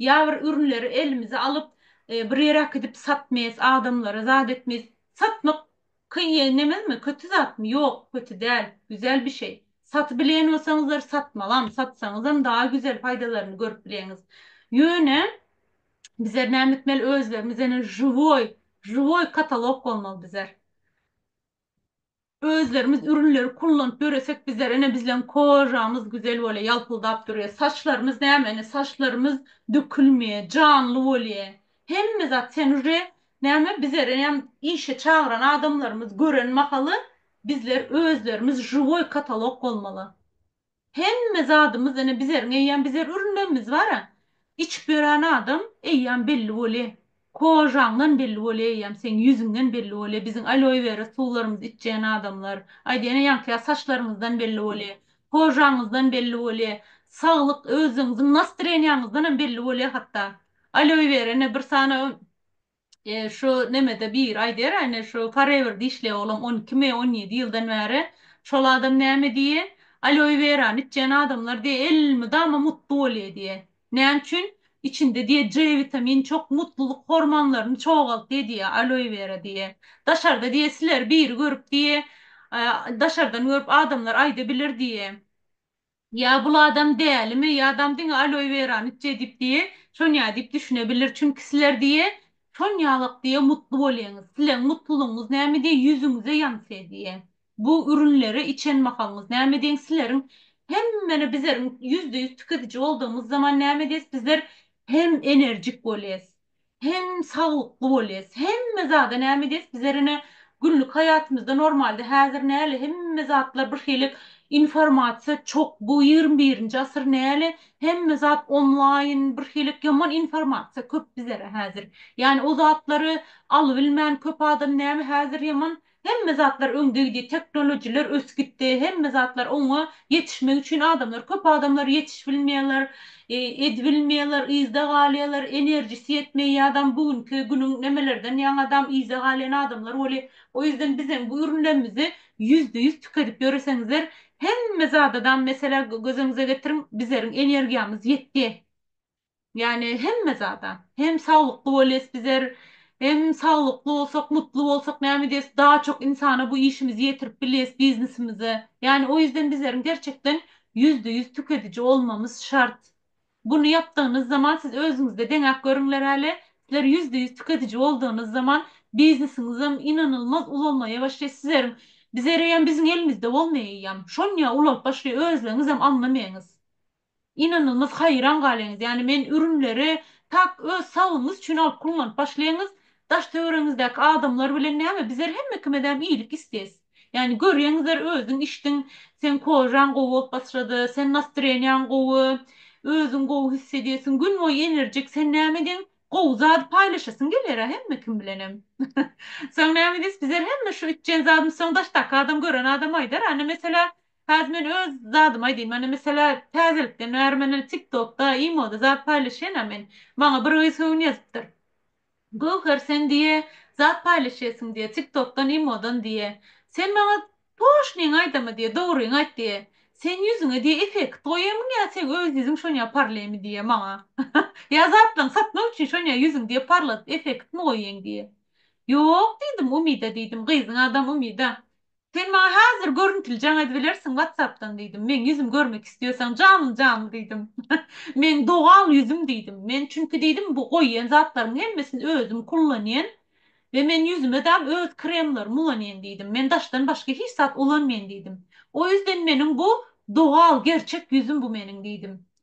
Ýa bir ürünleri elimize alyp, bir ýere äkidip satmyýas, adamlara zat etmyýas. Satmak kyn, nemezmi, kötü zatmy? Ýok, kötü däl, güzel bir şeý. Satybilýän bolsaňyzlar, satmagam, satsaňyzam daha güzel paýdalaryny görüp bileňiz. Ýöne, bizler näme etmeli, özlerimiz ene, žiwoý, žiwoý katalog bolmaly bizler. Özlerimiz ürünleri kullanyp döresek bizler ene bizleň kožamyz güzel bolýa ýalpyldap durýa saçlarymyz näme ene saçlarymyz dökülmeýe janly bolýa hemme zat sen uje näme bizerenem işe çagyran adamlarymyz gören mahaly bizler özlerimiz žiwoý katalog bolmaly. Hemme zadymyz ene bizeriň eýýam bizer ürünmegimiz bara. Içip ýören adam eýýam belli bolýa. Kožaňdan belli bolýa eýýam seň ýüzüňden belli bolýa biziň aloe vera suwlarymyzy içýän adamlar. Aýda ene ýaňkyýa saçlaryňyzdan belli bolýa. Kožaňyzdan belli bolýa. Saglyk özüňiziň nastreniýaňyzdanam belli bolýa hatda. Aloe vera ene bir sany E şu nemede biri aýdar äne şu forever dişleý oglam on iki mi on ýedi ýyldan bäri şol adam näme diýe aloe werany içýän adamlar diýe el mydama mutlu bolýa diýe näme üçin içinde diýe c witamin çok mutlulyk hormonlaryny çogaltýa diýe aloe wera diýe daşarda diýe sileri biri görüp diýe daşardan görüp adamlar aýda bilir diýe Ýa bul adam dälimi, ýa adam diňe aloe werany içýä diýip diýe, şonýa diýip düşüne bilir. Çünki sizler diýe, şonýalak diýe mutly bolýaňyz. Sizleň mutlulygyňyz näme diýe ýüzüňize ýansýa diýe. Bu ürünleri içen mahalyňyz näme diýeň sizleriň hemmeni bizleriň ýüzde ýüz tikiziji boldugymyz zaman näme diýes bizler hem enerjik bolýas. Hem saglykly bolyas hemme zada näme diýes bizer ene günlik haýatymyzda normalde häzir näle hemme zatlar bir şeýlek informasiýa çok bu ýigrimi birinji asyr näle hemme zat onlaýyn bir şeýlek ýaman informasiýa köp bizere häzir ýani o zatlary alybilmän köp adam näme häzir ýaman Hemme zatlar öňdegidi, teknolojiler ösüp gitdi, hemme zatlar oňa ýetişmek üçin adamlar, köp adamlar ýetişibilmeýärler, edibilmeýärler, yzda galýarlar, enerjisi ýetmeýär ýadam bu günki günüň nemelerden ýaňadam yza galýan adamlar weli, o ýüzden bizem bu ürünlerimizi ýüzde ýüz tükedip ýöreseňizler, hemme zadadam meselä göz öňüze getiriň, bizeriň energiýamyz ýetdi. Ýagny hemme zada. Hem saglykly bolýas bizer, hem saglykly bolsak, mutly bolsak näme edýäs, daha çok insana bu işimizi ýetirip bilýäs, biznesimizi. Ýagny o ýüzden bizleriň gerçekden ýüzde ýüz tükediji bolmamyz şart. Buny ýapdygynyz zaman siz özüňizde deňäp görüňler häli, sizler ýüzde ýüz tükediji boldugynyz zaman biznesiňizem ynanylmaz ulamaýa başlaýar. Sizleriň bizereýem biziň elimizde bolmaýaýýam. Şonýa ulap başlaýar, özleriňizem aňlamaýaňyz. Ynanyňyz haýran galyňyz ýani men ürünleri tak öz saglygyňyz üçin alyp kullanyp başlaýyňyz daş töweregiňizdäki adamlar bilen näme bizler hemmekimizäm iýlik isteýs ýani görýäňizler özüň içdiň seň kožaň gowy bolup başlady sen nastreniýaň gowy özüň gowy his edýäsiň gün boýy enerjik sen näme ediň gowy zady paýlaşasyň gelýärä hemmekim bilenem soň näme diýs bizler hemme şu içýän zadymyz soň daşdaky adam gören adam aýdar ana meselä Häzir men öz zadymy aýdaýyn. Mana meselä täzelikden bäri men indi tiktokda, imoda zat paýlaşýan-a men. Maňa bir gyz höwün ýazypdyr. Göwher sen diýe zat paýlaşýarsyň diýe tiktokdan, imodan diýe. Sen maňa toşnyňy aýdama diýe, dogryňy aýt diýe. Sen ýüzüňe diýe effekt goýýarmyň ýa seň öz ýüzüň şonýa parlaýmy diýe maňa. Ýa zatlaňy satmak üçin şonýa ýüzüň diýe parladyp effektmi goýýaň diýe. Ýok diýdim Umida diýdim, gyzyň adam Umida. Sen maňa häzir görüntili jaň edibilersiň watsapdan diýdim. Meň ýüzüm görmek isleýäseň janly janly diýdim. Meň dogal ýüzüm diýdim. Men çünki diýdim bu goýýan zatlaryň hemmesini özüm kullanýan we men ýüzüme dal öz kremlerimi ulanýan diýdim. Men daşdan başga hiç zat ulanmaýan diýdim. O ýüzden meniň bu dogal gerçek ýüzüm bu meniň diýdim.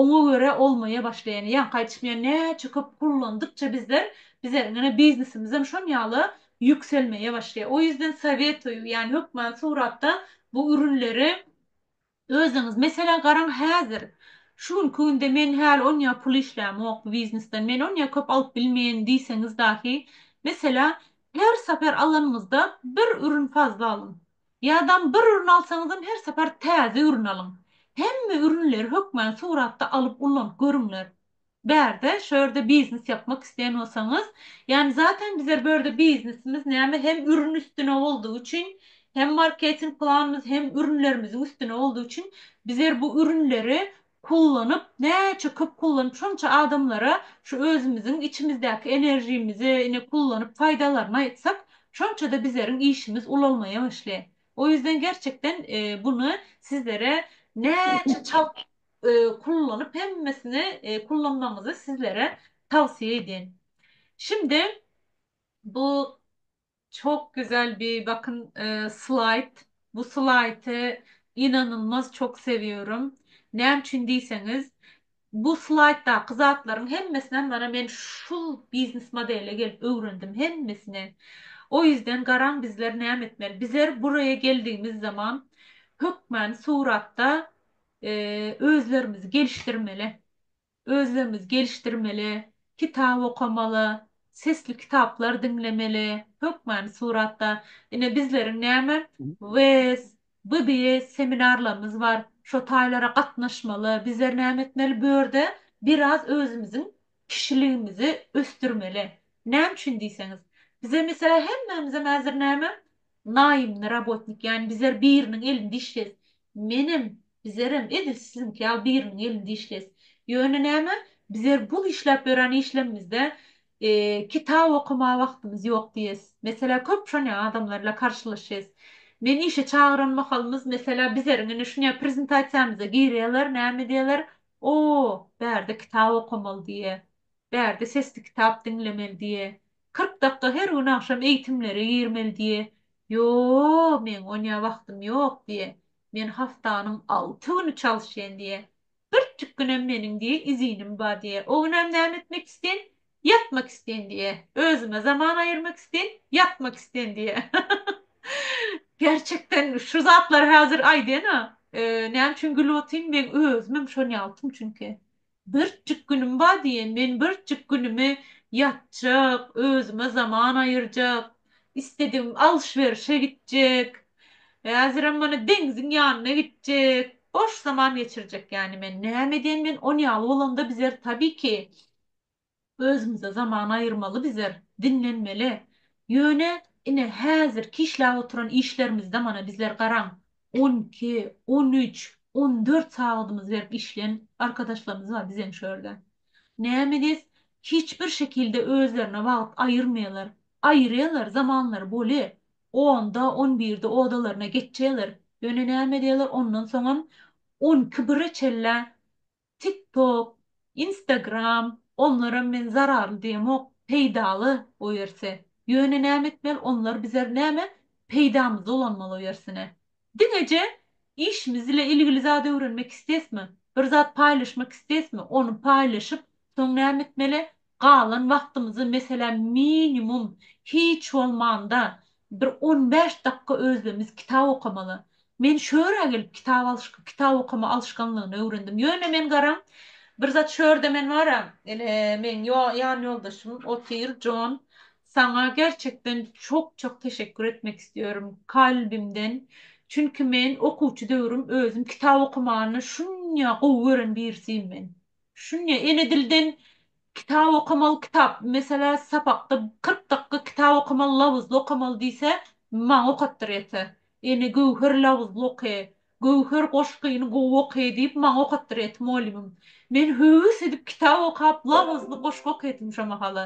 Oňa görä olmaýa başlaýan, ýaňky aýdyşym ýaly näçe köp kullandykça bizler bize ňene biznesimizem şon ýaly ýükselmeýä başlaýa. O ýüzden sowetoýu ýani hökman suratda bu ürünleri özüňiz meselä garaň häzir şu günki günde men häli onýa pul işlämok bu biznesden men onýa köp alyp bilmeýän diýseňiz dahi meselä her saper alanyňyzda bir ürün fazla alyň. Ýadam bir ürün alsaňyzam her sapar täze ürün alyň. Hemme ürünleri hökmän suratda alyp ullanyp görüňler. Bärde şu ýerde biznes ýapmak isleýän bolsaňyz, ýani zaten bizler bu ýerde biznesimiz näme hem ürün üstüne boldugy üçin, hem marketing planymyz hem ürünlerimiziň üstüne boldugy üçin bizler bu ürünleri kullanyp näçe köp kullanyp şonça adamlara şu özümiziň içimizdäki enerjimizi ine kullanyp faýdalaryny aýtsak şonçada bizleriň işimiz ulalmaýa başly o ýüzden gerçekden buny sizlere näçe çalt kullanyp hemmesini kullanmagyňyzy sizlere tawsiýa edýän şindi bu Çok güzel bir bakın slide. Bu slayty inanylmaz çok seviyorum. Näme üçin diýseňiz, bu slaýtdaky zatlaryň hemmesinem mana men şul biznes modele gelip öwrendim hemmesini. O ýüzden garaň bizler näme etmeli? Bizler buraya geldigimiz zaman hökmany suratda özlerimizi gelişdirmeli. Özlerimiz gelişdirmeli, kitap okamaly, sesli kitaplar diňlemeli, hökmany suratda. Ine, bizleriň näme, WES, BBS seminarlarymyz bar. Şo taýlara gatnaşmaly. Bizler näme etmeli, bu ýerde biraz özümiziň kişiligimizi ösdürmeli. Näme üçin diýseňiz, bize, meselem, hemmämizem häzir näme, Naýymly robotnik ýany bizar biriniň elinde işleýs. Menem, bizarem edil siziňki ýaly biriniň elinde işleýs. Ýöne näme, bizar bu işläp ýören işlemimizde kitap okamaga wagtymyz ýok diýes. Meselä köp şonýa adamlar bilen karşylaşýas. Men işe çagyran mahalymyz meselä bizariň ine şunýa prezentasiýamyza girýaler näme diýeler, O, bärde kitap okamaly diýe. Bärde sesli kitap diňlemeli diýe. Kyrk dakga her gün agşam eýtimlere girmeli diýe. Ýoo, meň onýa wagtym ýok diýe. Men haftanyň alty güni çalyşýan diýe. Birjik günem meniň diýe izinim ba diýe. O günem näme etmek islen? Ýatmak islen diýe. Özüme zaman aýyrmak islen, ýatmak islen diýe. Gerçekden şu zatlary häzir aýdýan-a. Näme üçin gülüp otyryn? Meň özümem şony ýaltym çünki. Birjik günüm bar diýen, men birjik günümi ýatjak, özüme zaman aýyrjak, isledigim alş-berişe gitjek, häzirem mana deňziň ýanyna gitjek, boş zaman geçirjek ýaly men. Näme edýän men ol ýaly bolanda bizer tabii ki, Özümize zaman aýyrmaly bizer, diňlenmeli. Ýöne, ine, häzirki işläp oturan işlerimizde mana bizler garaň, on iki, on üç, on dört sagadymyzy berip işleýän arkadaşlarymyz bar bizeň şu ýerde. Näme diýs, hiç bir şekilde özlerine wagt aýyrmaýarlar. Aýyrýarlar, zamanlary boly, onda, on birde odalaryna geçýärler. Ýöne näme edýärler, ondan soňam on iki, bire çenlä Tik tok, instagram onlaram men zararly diýemok peýdaly oerse ýöne näme etmeli onlar bizer näme peýdamyza ulanmaly oersine diňeje işimiz ile ilgili zat öwrenmek istesmi bir zat paýlaşmak istesmi ony paýlaşyp soň näme etmeli Galan wagtymyzy, meselem, minimum, hiç bolmanda, bir on bäş dakga özümiz kitap okamaly. Men şu örä gelip kitap alyşk kitap okama alyşganlygyny öwrendim. Ýöne men garaň, bir zat şu ýerde men bara, ine, meň ýo ýan ýoldaşym otyr, Jon. Saňa gerçekden çok-çok teşekkür etmek istiyorum, kalbimden. Çünki men okuwçy döwrüm özüm kitap okamany şunya gowy gören birisiýim men. Şuny ele dilden kitap okamaly kitap meselä sapakda kyrk dakga kitap okamaly labyzly okamaly diýse maňa okatdyr ýetse ene göwher labyzly oky göwher goşgyny gowy oky diýip maňa okatdyr ýet molymym men höwes edip kitap okap labyzly goşgy okyatym şo mahala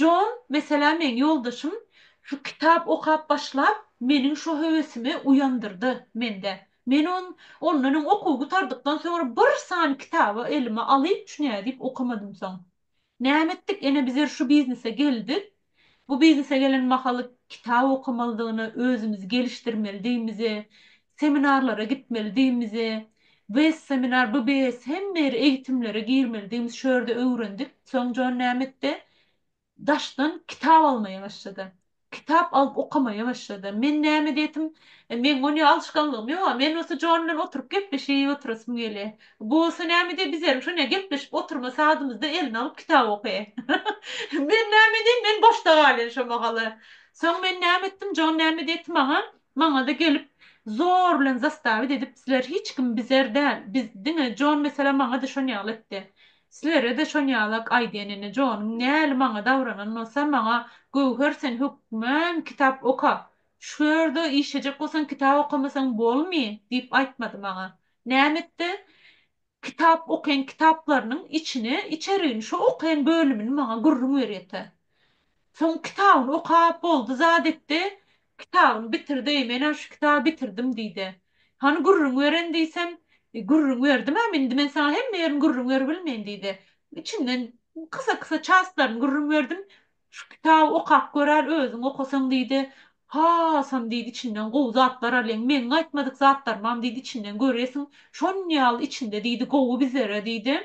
jon meselä meň ýoldaşym şu kitap okap başlap meniň şo höwesimi uýandyrdy mende Men on, ondan öň okuw gutardykdan soňra bir sany kitaby elime alyp, şu nädip okamadymsoň. Näme etdik, ene bizer şu biznese geldik. Bu biznese gelen mahaly kitap okamalydygyna özümizi gelişdirmelidigimizi, seminarlara gitmelidigimizi, WES seminar, BBS hemme ýer eýitimlere girmelidigimizi şu ýerde öwrendik. Soň jon näme etdi? Daşdan kitap almaýa başlady. Kitap alyp okamaýa başlady. Men näme diýetim, meň onýa alyşganlygym ýok-a. Men bolsa Jon bilen oturyp gepleşip oturasym gelýä. Bu bolsa näme diýer, biz hem şonýa gepleşip oturma sadymyzda eline alyp kitap okaýa. Men näme diýeýin, men boşda galýan şo mahaly. Soň men näme etdim, Jon näme diýeti maňa, maňa-da gelip, zor bilen zastawit edip, sizler hiç kim bizer däl, biz diňe Jon meselem maňa-da şon ýaly etdi. Sizlere-de şonýalak aýdýan ene Jonyň näli maňa dawranan bolsa maňa Göwher sen hökman kitap oka, şu ýerde işlejek bolsaň kitap okamasaň bolmy diýip aýtmady maňa. Näme etdi? Kitap okaýan kitaplarynyň içini içerigini şo okaýan bölümini maňa gürrüň berýete. Soň kitabyny okap boldy zat etdi, Kitabyňy bitirdi, menem şu kitaby bitirdim diýdi. Hany gürrüň beren diýsem, Gürrüň berdim-ä, indi men saňa hemme ýerini gürrüň berip bilmen diýdi. Içinden kysa-kysa çastlaryny gürrüň berdim. Şu kitaby okap göräýl, özüň okasaň diýdi. Hasam diýdi içinden gowy zatlar alýaň, meň aýtmadyk zatlarymam diýdi içinden görýesiň, şonýaly içinde diýdi gowy bizlere diýdi.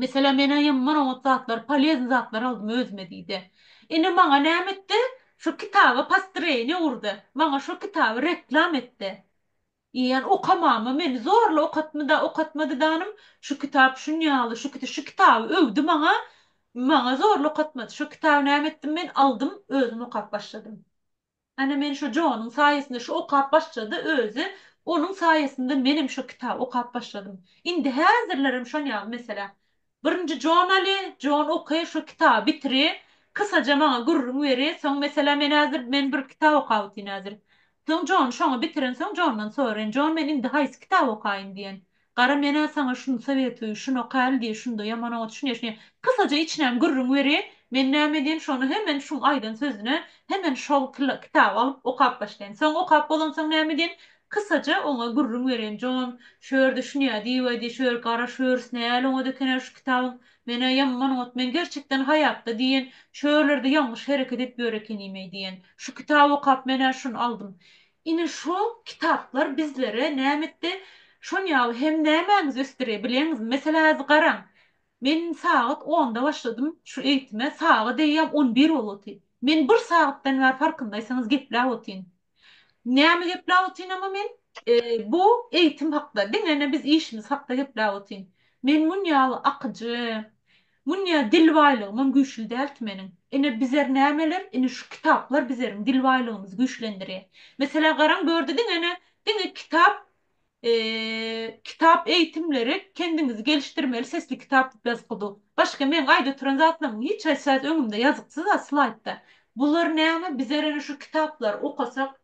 Meselem men aýam bir oňat zatlar polezny zatlar aldym özüme diýdi. Ine maňa näme etdi şu kitaba postroýeniýe gurdy. Maňa şu kitaby reklam etdi. Eýýän okamamy meni zorla okatmyda okatmady danym şu kitap şunýaly şu kiti şu kitaby öwdi maňa maňa zorla okatmady şu kitaby näme etdim men aldym özüm okap başladym. Ana men şo Jonyň saýasynda şu okap başlady özi onuň saýasynda menem şo kitaby okap başladym. Indi häzirlerem şon ýaly meselä. Birinji Jon aly, Jon oky şo kitaby bitiri, kysaja maňa gürrüň beri, soň meselä men häzir men bir kitap okap otyryn häzir. Soň Jony şoňa bitirensoň Jondan soraýyn, Jon men indi haýsy kitaby okaýyn diýen. Gara menä saňa şuny sowetligiň şunokaly diýi şunda ýaman oňa düşünýeşňe kysaja içinem gürrüň beri men näme diýen şony hemen şuň aýdan sözüne hemen şol kyla kitaby alyp okap başlaýyn soň okap bolansoň näme diýen kysaja oňa gürrüň berýin jon şör düşünýä diýiwedi şör gara şörs näl oňat ekenä şu kitabyň menä ýamman oňat men gerçekden haýatda diýen şörlerde ýalňyş hereket edip ýör ekenimeý diýen şu kitaby okap menä şuny aldym Ine şo kitaplar bizlere nämetde şon ýaly hem nämäňizi ösdürýär bileňizmi? Meselä häzi garaň. Men sagat onda başladym şu eýitime saga deýýäm on bir bolup otyr. Men bir sagatdan bäri farkyndaýsaňyz gepläp otyryn. Näme gepläp otyryn ama men? Bu eýitim hakda diňe ene biz işimiz hakda gepläp otyryn. Men mun ýaly akyjy Munýa dil baýlygymam güýçli dälti meniň. Ine bizer nämeler, ine şu kitaplar bizeriň dil baýlygymyzy güýçlendirýär. Meselä garaň bu ýerde diňe-ne, diňe kitap, kitap eýitimleri, kendiňizi gelişdirmeli sesli kitap diýip ýazypky bu. Başga meň aýda oturan zatlarymyň hiç haýsy zat öňümde ýazypsyz-a slaýdda. Bular näme, bizer ene şu kitaplary okasak,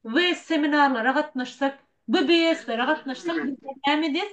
WS seminarlara gatnaşsak, BBS-lere gatnaşsak bizer näme edýäs?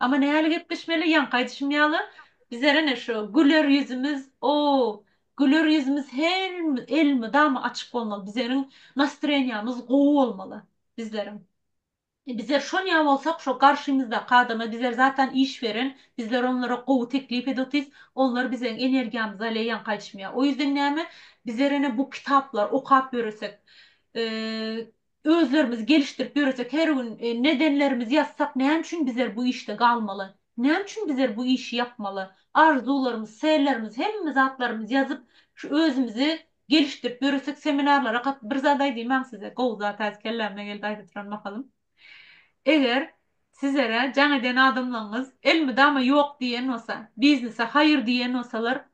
Amma näle gepleşmeli ýaňky aýdyşym ýaly bizler ene şu güler ýüzümiz o güler ýüzümiz her elmydama açyk bolmaly bizleriň nastreniýamyz gowy bolmaly bizleriň bizler şonýa bolsak şo garşymyzdaky adama bizler zatan iş beren bizler onlara gowy teklip edip otyrys onlar bizleriň energiýamyzy alýar ýaňky aýdyşym ýaly o ýüzden näme bizler ene bu kitaplar okap ýöresek Özlerimiz gelişdirip ýöresek her gün nedenlerimiz ýazsak näme üçin bizler bu işde galmaly? Näme üçin bizler bu işi ýapmaly? Arzuwlarymyz, sellerimiz hemme zatlarymyz ýazyp şu özümizi gelişdirip ýöresek seminarlara gat bir zat aýdymaň size gowy zat häzir kelläme geldi aýda turan mahalym. Eger sizlere jaň eden adamlaňyz elmydama ýok diýen bolsa biznese haýyr diýen bolsalar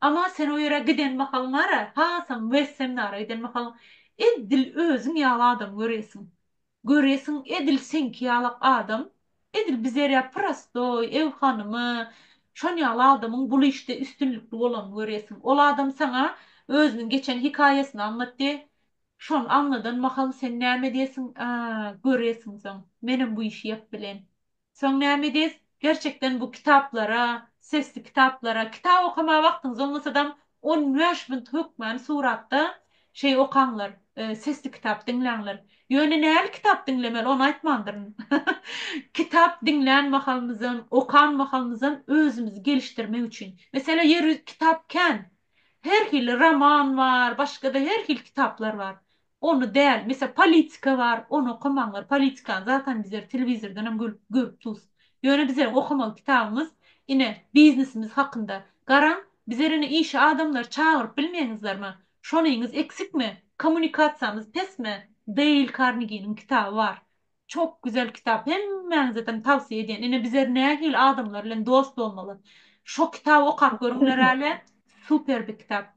Ama sen o ýere giden mahalyňara hasam wez seminara giden mahalyň edil özüň ýaly adam göresiň. Göresiň edil seňki ýaly adam edil bizer ýaly prostoý, ew hanymy, şon ýaly adamyň bul işde üstünlikli bolanyny göresiň. Ol adam saňa özüniň geçen hikaýasyny aňlatdy. Şony aňladan mahaly sen näme diýesiň? Aa, göresiň soň. Menem bu işi ýap bilen. Soň näme edis? Gerçekden bu kitaplara, sesli kitaplara, kitap okamaga wagtyňyz bolmasadam on bäş munt hökmany suratda şeý okaňlar, sesli kitap diňläňler. Ýöne näli kitap diňlemeli ony aýtmandyryn. Kitap diňlän mahalymyzam, okan mahalymyzam özümizi gelişdirmek üçin. Meselem ýeri kitap kän. Her hili roman bar, başga-da her hili kitaplar bar. Ony däl, mesel politika bar, ony okamaňlar, politikany zatan bizler telewizordanam görüp görüp dus. Ýöne bizleriň okamaly kitabymyz ine biznesimiz hakynda. Garaň, bizler ine işe adamlary çagyryp bilmeýňizlermi? Şonyňyz eksikmi? Kommunikasiýamyz pesmi? Deýl Karniginiň kitaby bar. Çok güzel kitap, hemmäňizedem tawsiýe edýän. Ine bizler nähili adamlar bilen dost bolmaly? Şo kitaby okap görüňlerälä, super bir kitap.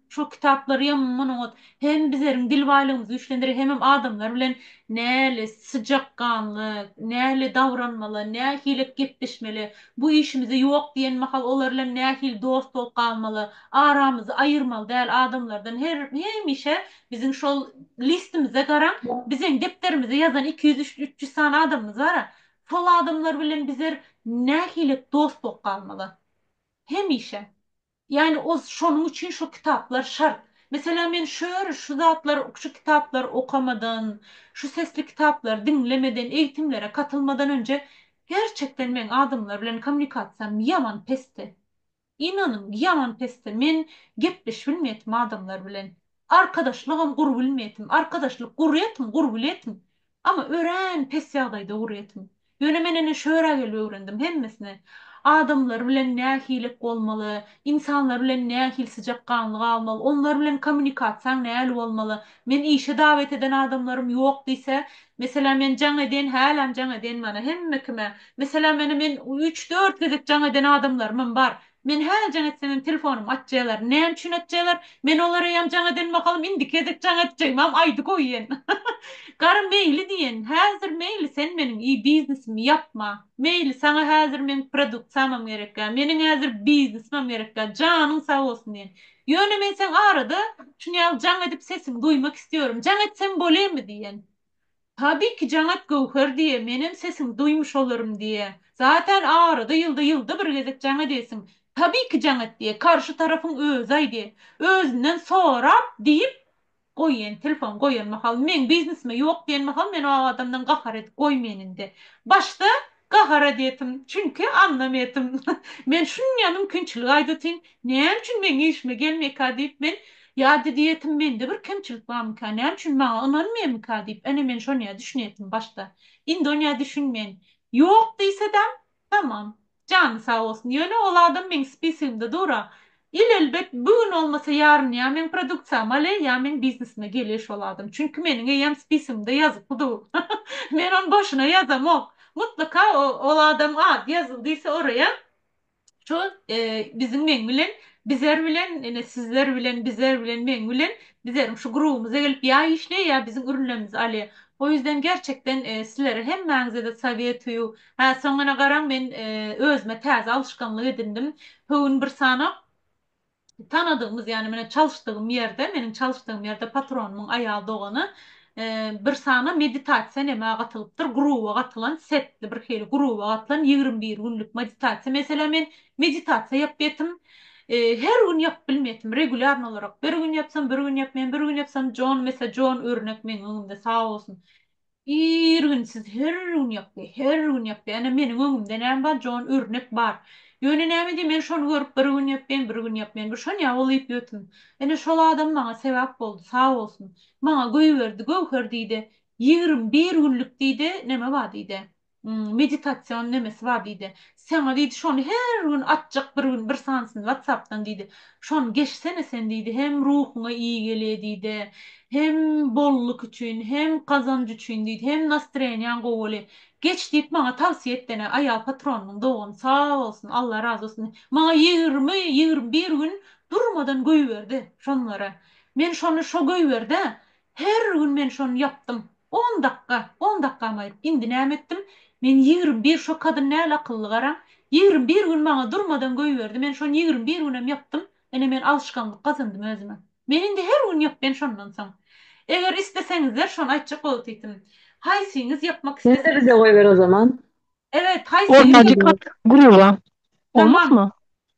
Şol kitaplary hem munuňat hem bizleriň dil baýlygymyzy güýçlendirer hemem adamlar bilen näli syjak ganly, näli dabranmaly, nähili gepleşmeli, bu işimize ýok diýen mahal olar bilen nähili dost bolup galmaly, aramyzy aýyrmaly däl adamlardan her hemişe biziň şol listimize garaň, bizeň depderimize ýazan iki ýüz üç üç ýüz sany adamymyz bara, şol adamlar bilen bizler nähili dost bolup galmaly? Hemişe. Ýagny ol şonuň üçin şo kitaplar şart. Meselem men şör şu zatlar şu kitaplar okamadan, şu sesli kitaplar diňlemeden, eýitimlere katylmadan önje gerçekden meň adamlar bilen kommunikasiýam ýaman pesdi. Ynanyň ýaman pesdi. Men gepleşip bilmeýetim adamlar bilen. Arkadaşlygam gurbilmeýetim, arkadaşlyk gurýetim, gurbilýetim. Ama örän pes ýagdaýda gurýetim. Ýöne men ene şöra gelip öwrendim hemmesini. Adamlar bilen nähilek bolmaly, insanlar bilen nähili syjakganly galmaly, onlar bilen kommunikasiýaň näli bolmaly. Men işe dawet eden adamlarym ýok diýse, meselem men jaň edýän, häläm jaň edýän mana hemme kime. Meselem ene men üç-dört gezek jaň eden adamlarymam bar. Men hä jaň etsemem telefonym açjalar näme üçin açjalar men olara ýam jaň eden mahalym indiki gezek jaň etjegimam aýdy goýýan Gara meýli diýen häzir meýli sen meniň i biznesimi ýapma meýli saňa häzir meň produktsiýamam gerekgä meniň häzir biznesmem gerekgä janyň sag bolsun diýen ýöne men seň arada şunýaly jaň edip sesiňi duýmak istiyorum jaň etsem bolemy diýen Tabi ki janat göwher diýe menem sesiň duýmuş olarym diýe zaten arada ýylda ýylda bir gezek janat eýsin tabi ki janat diýe karşy tarapyň özi aýdy özünden sorap diýip goýen telefon goýan mahaly meň biznesime ýok diýen mahaly men o adamdan gahar edip goýmaýyn indi başda Gahar edeýdim, çünki aňňam edim. Men şunýa mümkinçilik aýdatyn, näme üçin meň işime gelmeýka diýip, men ýa diýýetim, mende bir kemçilik barmyka, näme üçin maňa ynanmaýmyka diýip, ene men şonýa düşünýetim başda. Indi onýa düşünmen. Ýok diýsedäm, tamam, jany sag bolsun. Ýöne ol adam meň spisigimde dur-a. Ilelbet bu gün olmasa yaryn ya meň produksiýam ale ya meň biznesime gele şol adam çünki meniň eýem spisimde ýazypdy du men ony boşuna ýazamok mutlaka ol adam ady ýazyldy diýse oraya şo biziň meň bilen bizer bilen ine sizler bilen bizer bilen meň bilen bizeriň şu grubymyza gelip ya işleýe ya biziň ürünlerimizi alýa o ýüzden gerçekden sizlere hemmäňizede sowetuýu Hä, soňuna garaň, men özüme täze alşganlyk edindim. Höwün bir sanap, tanadygymyz, ýagny meniň çalyşdygym ýerde, meniň çalyşdygym ýerde patronymyň aýal dogany bir sana meditasiýa nämä gatylypdyr, gruba gatylan, setli bir hili gruba gatylan ýigrimi bir günlük meditasiýa. Meselem, men meditasiýa ýapýatym. Her gün ýapyp bilmeýätim, regulýarny olarak. Bir gün ýapsam, bir gün ýapmaýan, bir gün ýapsam, Jon, meselem, Jon örnek meniň öňümde, sag bolsun. Ir gün siz her gün ýokdy, her gün ýokdy. Ene meniň öňümde näme bar, jon örnek bar. Ýöne näme edýin men şony görüp bir gün ýokdyn, bir gün ýokdyn. Bu şon ýaly bolýup ýötün. Ene şol adam maňa sebap boldy, sag bolsun. Maňa göýberdi, göwher diýde, ýigrim bir günlük diýde, näme bar diýde. meditasion nemesi bar diýdi. Saňa diýdi şony her gün atjak bir gün bir sanysyny watsapdan diýdi. Şony geçsene sen diýdi hem ruhuňa iyi gelýä diýdi. Hem bolluk üçin hem gazanç üçin diýdi. Hem nastroýeniýaň gowy bolýa. Geç diýip maňa tawsiýe etdene aýal patronymyň dogany sag bolsun Allah razy bolsun. Maňa ýigrimi ýigrimi bir gün durmadan göýberdi şonlary. Men şony şo göýberdä Her gün men şony ýapdym. On dakga, on dakgam aýyryp. Indi näme etdim? Men ýigrimi bir, şo kadyn näl akylly garaň. Ýigrimi bir gün maňa durmadan göýberdi. Men şony ýigrimi bir günem ýapdym. Ine men alşgaňlyk gazandym özüme. Men indi her gün ýapýan şondan soň. Eger isleseňizler şony aýtjak bolsytym. Haýsyňyz ýapmak Ýene-de bize goýber o zaman. Evet haýsy Ortacykak gruba Tamam. olmazmy?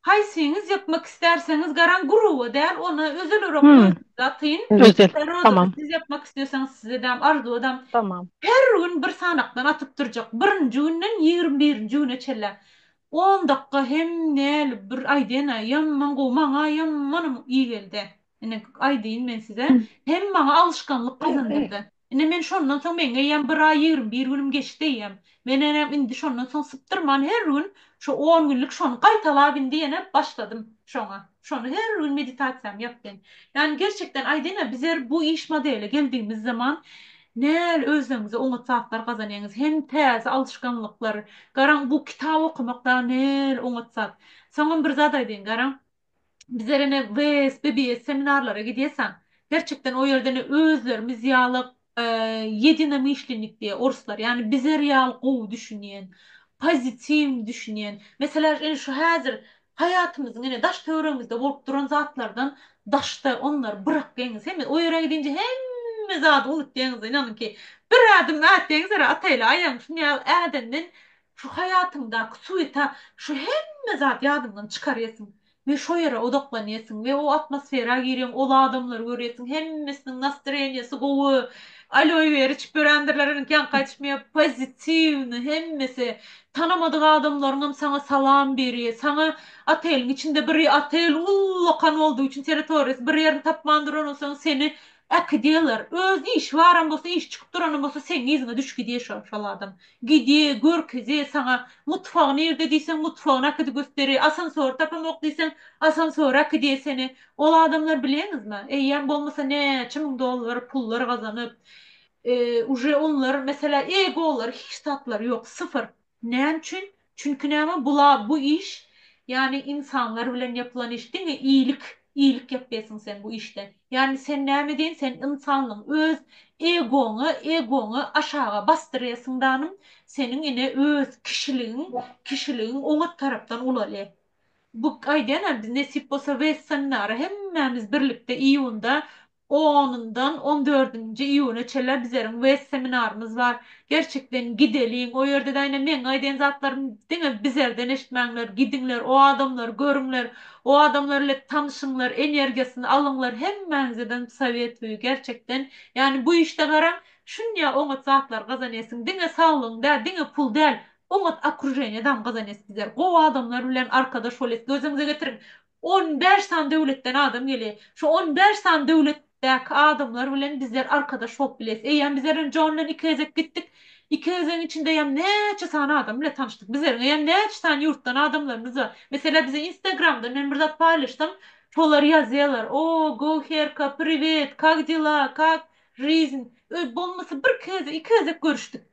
Haýsyňyz ýapmak isterseňiz garaň gruba däl ony özelirok Hmm. özüňiz atyn. Özel. Roza Tamam. siz ýapmak isterseňiz siz edäm Arzuw edäm. Tamam. Her gün bir sanakdan atyp durjak. Birinji günden ýigrimi birinji güne çenlä. On dakga hem näli bir aýdýana ýaman gowy maňa ýamanam iyi geldi. Ine aýdýyn men size. Hem maňa alyşganlyk gazandyrdy. Ine, men şondan soň meň eýýäm bir aý ýigrimi bir günüm geçdi eýýäm. Men enem indi şondan soň sypdyrman her gün şu on günlük şony gaýtalap indi ýene başladym şoňa. Şony her gün meditasiýamy ýapdym. Ýani gerçekden aýdaýyn-a bizer bu iş modeline geldigimiz zaman näl özleňize oňat zatlar gazanýaňyz hem täze alşganlyklar. Garaň bu kitap okamak dagy näl oňat zat. Soňam bir zat aýdaýyn garaň. Bizler ene WS, BBS seminarlara gidýäsaň, gerçekden o ýerde ene özlerimiz ýaly ýedinamyşlnik diýýär orslar, ýagny bizler ýaly gowy düşünýän, pozitiw düşünýän, meselä ene şu häzir haýatymyzyň ene daş-töweregimizde bolup duran zatlardan daşda onlary bırakýaňyz, hemme o ýere gidince hemme zady unutýaňyz-da, ynanyň ki, bir ädim ätýäňiz ere ataýly aýagyň şuny ýaly ädenden Şu haýatyňdaky suweta şu hemme zat ýadyňdan çykarýarsyň we şo ýere odaklanýarsyň we o atmosfera girýäň, ol adamlary görýärsiň, hemmesiniň nastreniýesi gowy, aloe vera içip ýörendirler iniňki ýaňky aýdyşym ýaly pozitiwnyý hemmesi, tanamadyk adamlaryňam saňa salam biri, saňa oteliň içinde biri otel ullakan boldugy üçin teritoriýasy bir ýerini tapman duran bolsaň seni äkidýärler, öz işi baram bolsa, işi çykyp duranam bolsa seň yzyňa düşgidýär şo şol adam, Gidýä, görkezýä saňa. Mutfagy nirde diýseň, mutfagyny akidi gösderi. Asansory tapamok diýseň, asansory akidýä seni. Ol adamlar bilýäňizmi? Eýýäm bolmasa näçe müň dollar pullar gazanyp, uje onlar, meselä, egolar hiç zatlary ýok, syfyr. Näme üçin? Çünki näme bula bu iş ýany ynsanlar bilen ýapylan iş diňe iýlik iýlik ýapýasyň sen bu işde ýany sen näme diýen sen ynsanlygyň öz egoňy egoňy aşaga basdyrýasyň danym seniň ine öz kişiligiň kişiligiň oňat tarapdan ulaly bu aýdýan a biz nesip bolsa westernara hemmämiz birlikde iýunda Onundan on dördünji iýuna çenler bizleriň west seminarymyz bar. Gerçekden gideliň. O ýerde daýna meň aýdan zatlarym diňe bizerden eşitmäňler. Gidiňler, o adamlary görüňler. O adamlar ile tanyşyňlar, energiýasyny alyňlar. Hemmäňizeden sowet bu gerçekden. Ýani bu işde garaň, şunýa oňat zatlar gazanýasyň. Diňe saglygyň däl, diňe pul däl. Oňat okrujeniýa dam gazanýas bizler. Gowy adamlar bilen arkadaş bolýas. Gözüňize getiriň. On bäş sany döwletden adam gelýär. Şu on bäş sany döwletdäki adamlar bilen bizler arkadaş bolup bileris. Eýýäm bizlerem Jon bilen iki gezek gitdik. Iki gezegiň içindeýem näçe sany adam bilen tanyşdyk. Bizleriň eýýäm näçe sany ýurtdan adamlarymyz bar. Meselä bize Instagramdan men bir zat paýlaşsam, şolar ýazýarlar, O, go Herka, priwet, kak dela, kak, Žizn. Öý bolmasa bir-iki gezek, iki gezek görüşdik.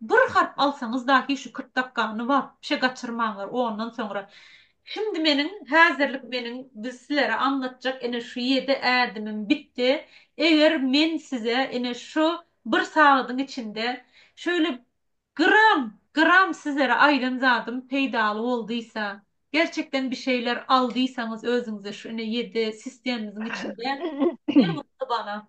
Bir harp alsaňyz dahi şu kyrk dakgany wapşe gaçyrmaňlar ondan soňra şimdi meniň hazirlik meniň biz silere aňlatjak ine şu ýedi ädimim bitdi eger men size ine şu bir sagadyň içinde şöyle gram gram sizlere aýdan zadym peýdaly boldysa gerçekden bişeýler aldysaňyz özüňize şu ine ýedi sistemimiziň içinde ne mutly bana.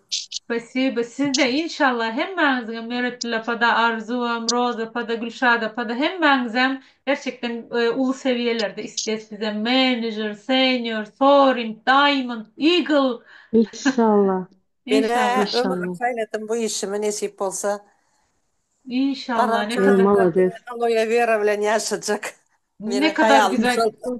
Spasibo sizde inşallah hemmäňiziňem Meretgül apada Arzuwam Roza apada Gülşada apada hemmäňizem gerçekden uly sewiýelerde isles bizem menejer senior sorint daýmond igl Inşallah Menä ömrüm Inşallah. saýladym bu işimi nesip bolsa Inşallah ne garamçylyk kadar Molades. aloe vera bilen ýaşajak ne meniň kadar haýalym güzel şol.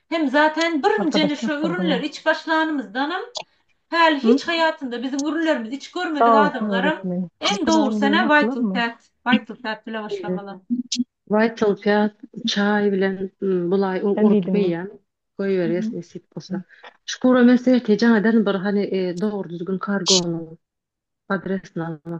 Hem zaten birinjini şu ürünleri iç başlanymyzdanam häli hiç haýatynda biziň ürünlerimizi iç görmedik adamlaram iň dogrusyna Vital Fat, Vital Fat bile başlamaly. Vital Fat çaý bilen bulaý urup geýýän. Goýberýäs nesip bolsa. Şüküre men serhetjäňeden bir hany dogry düzgün kargonyň adresini almak.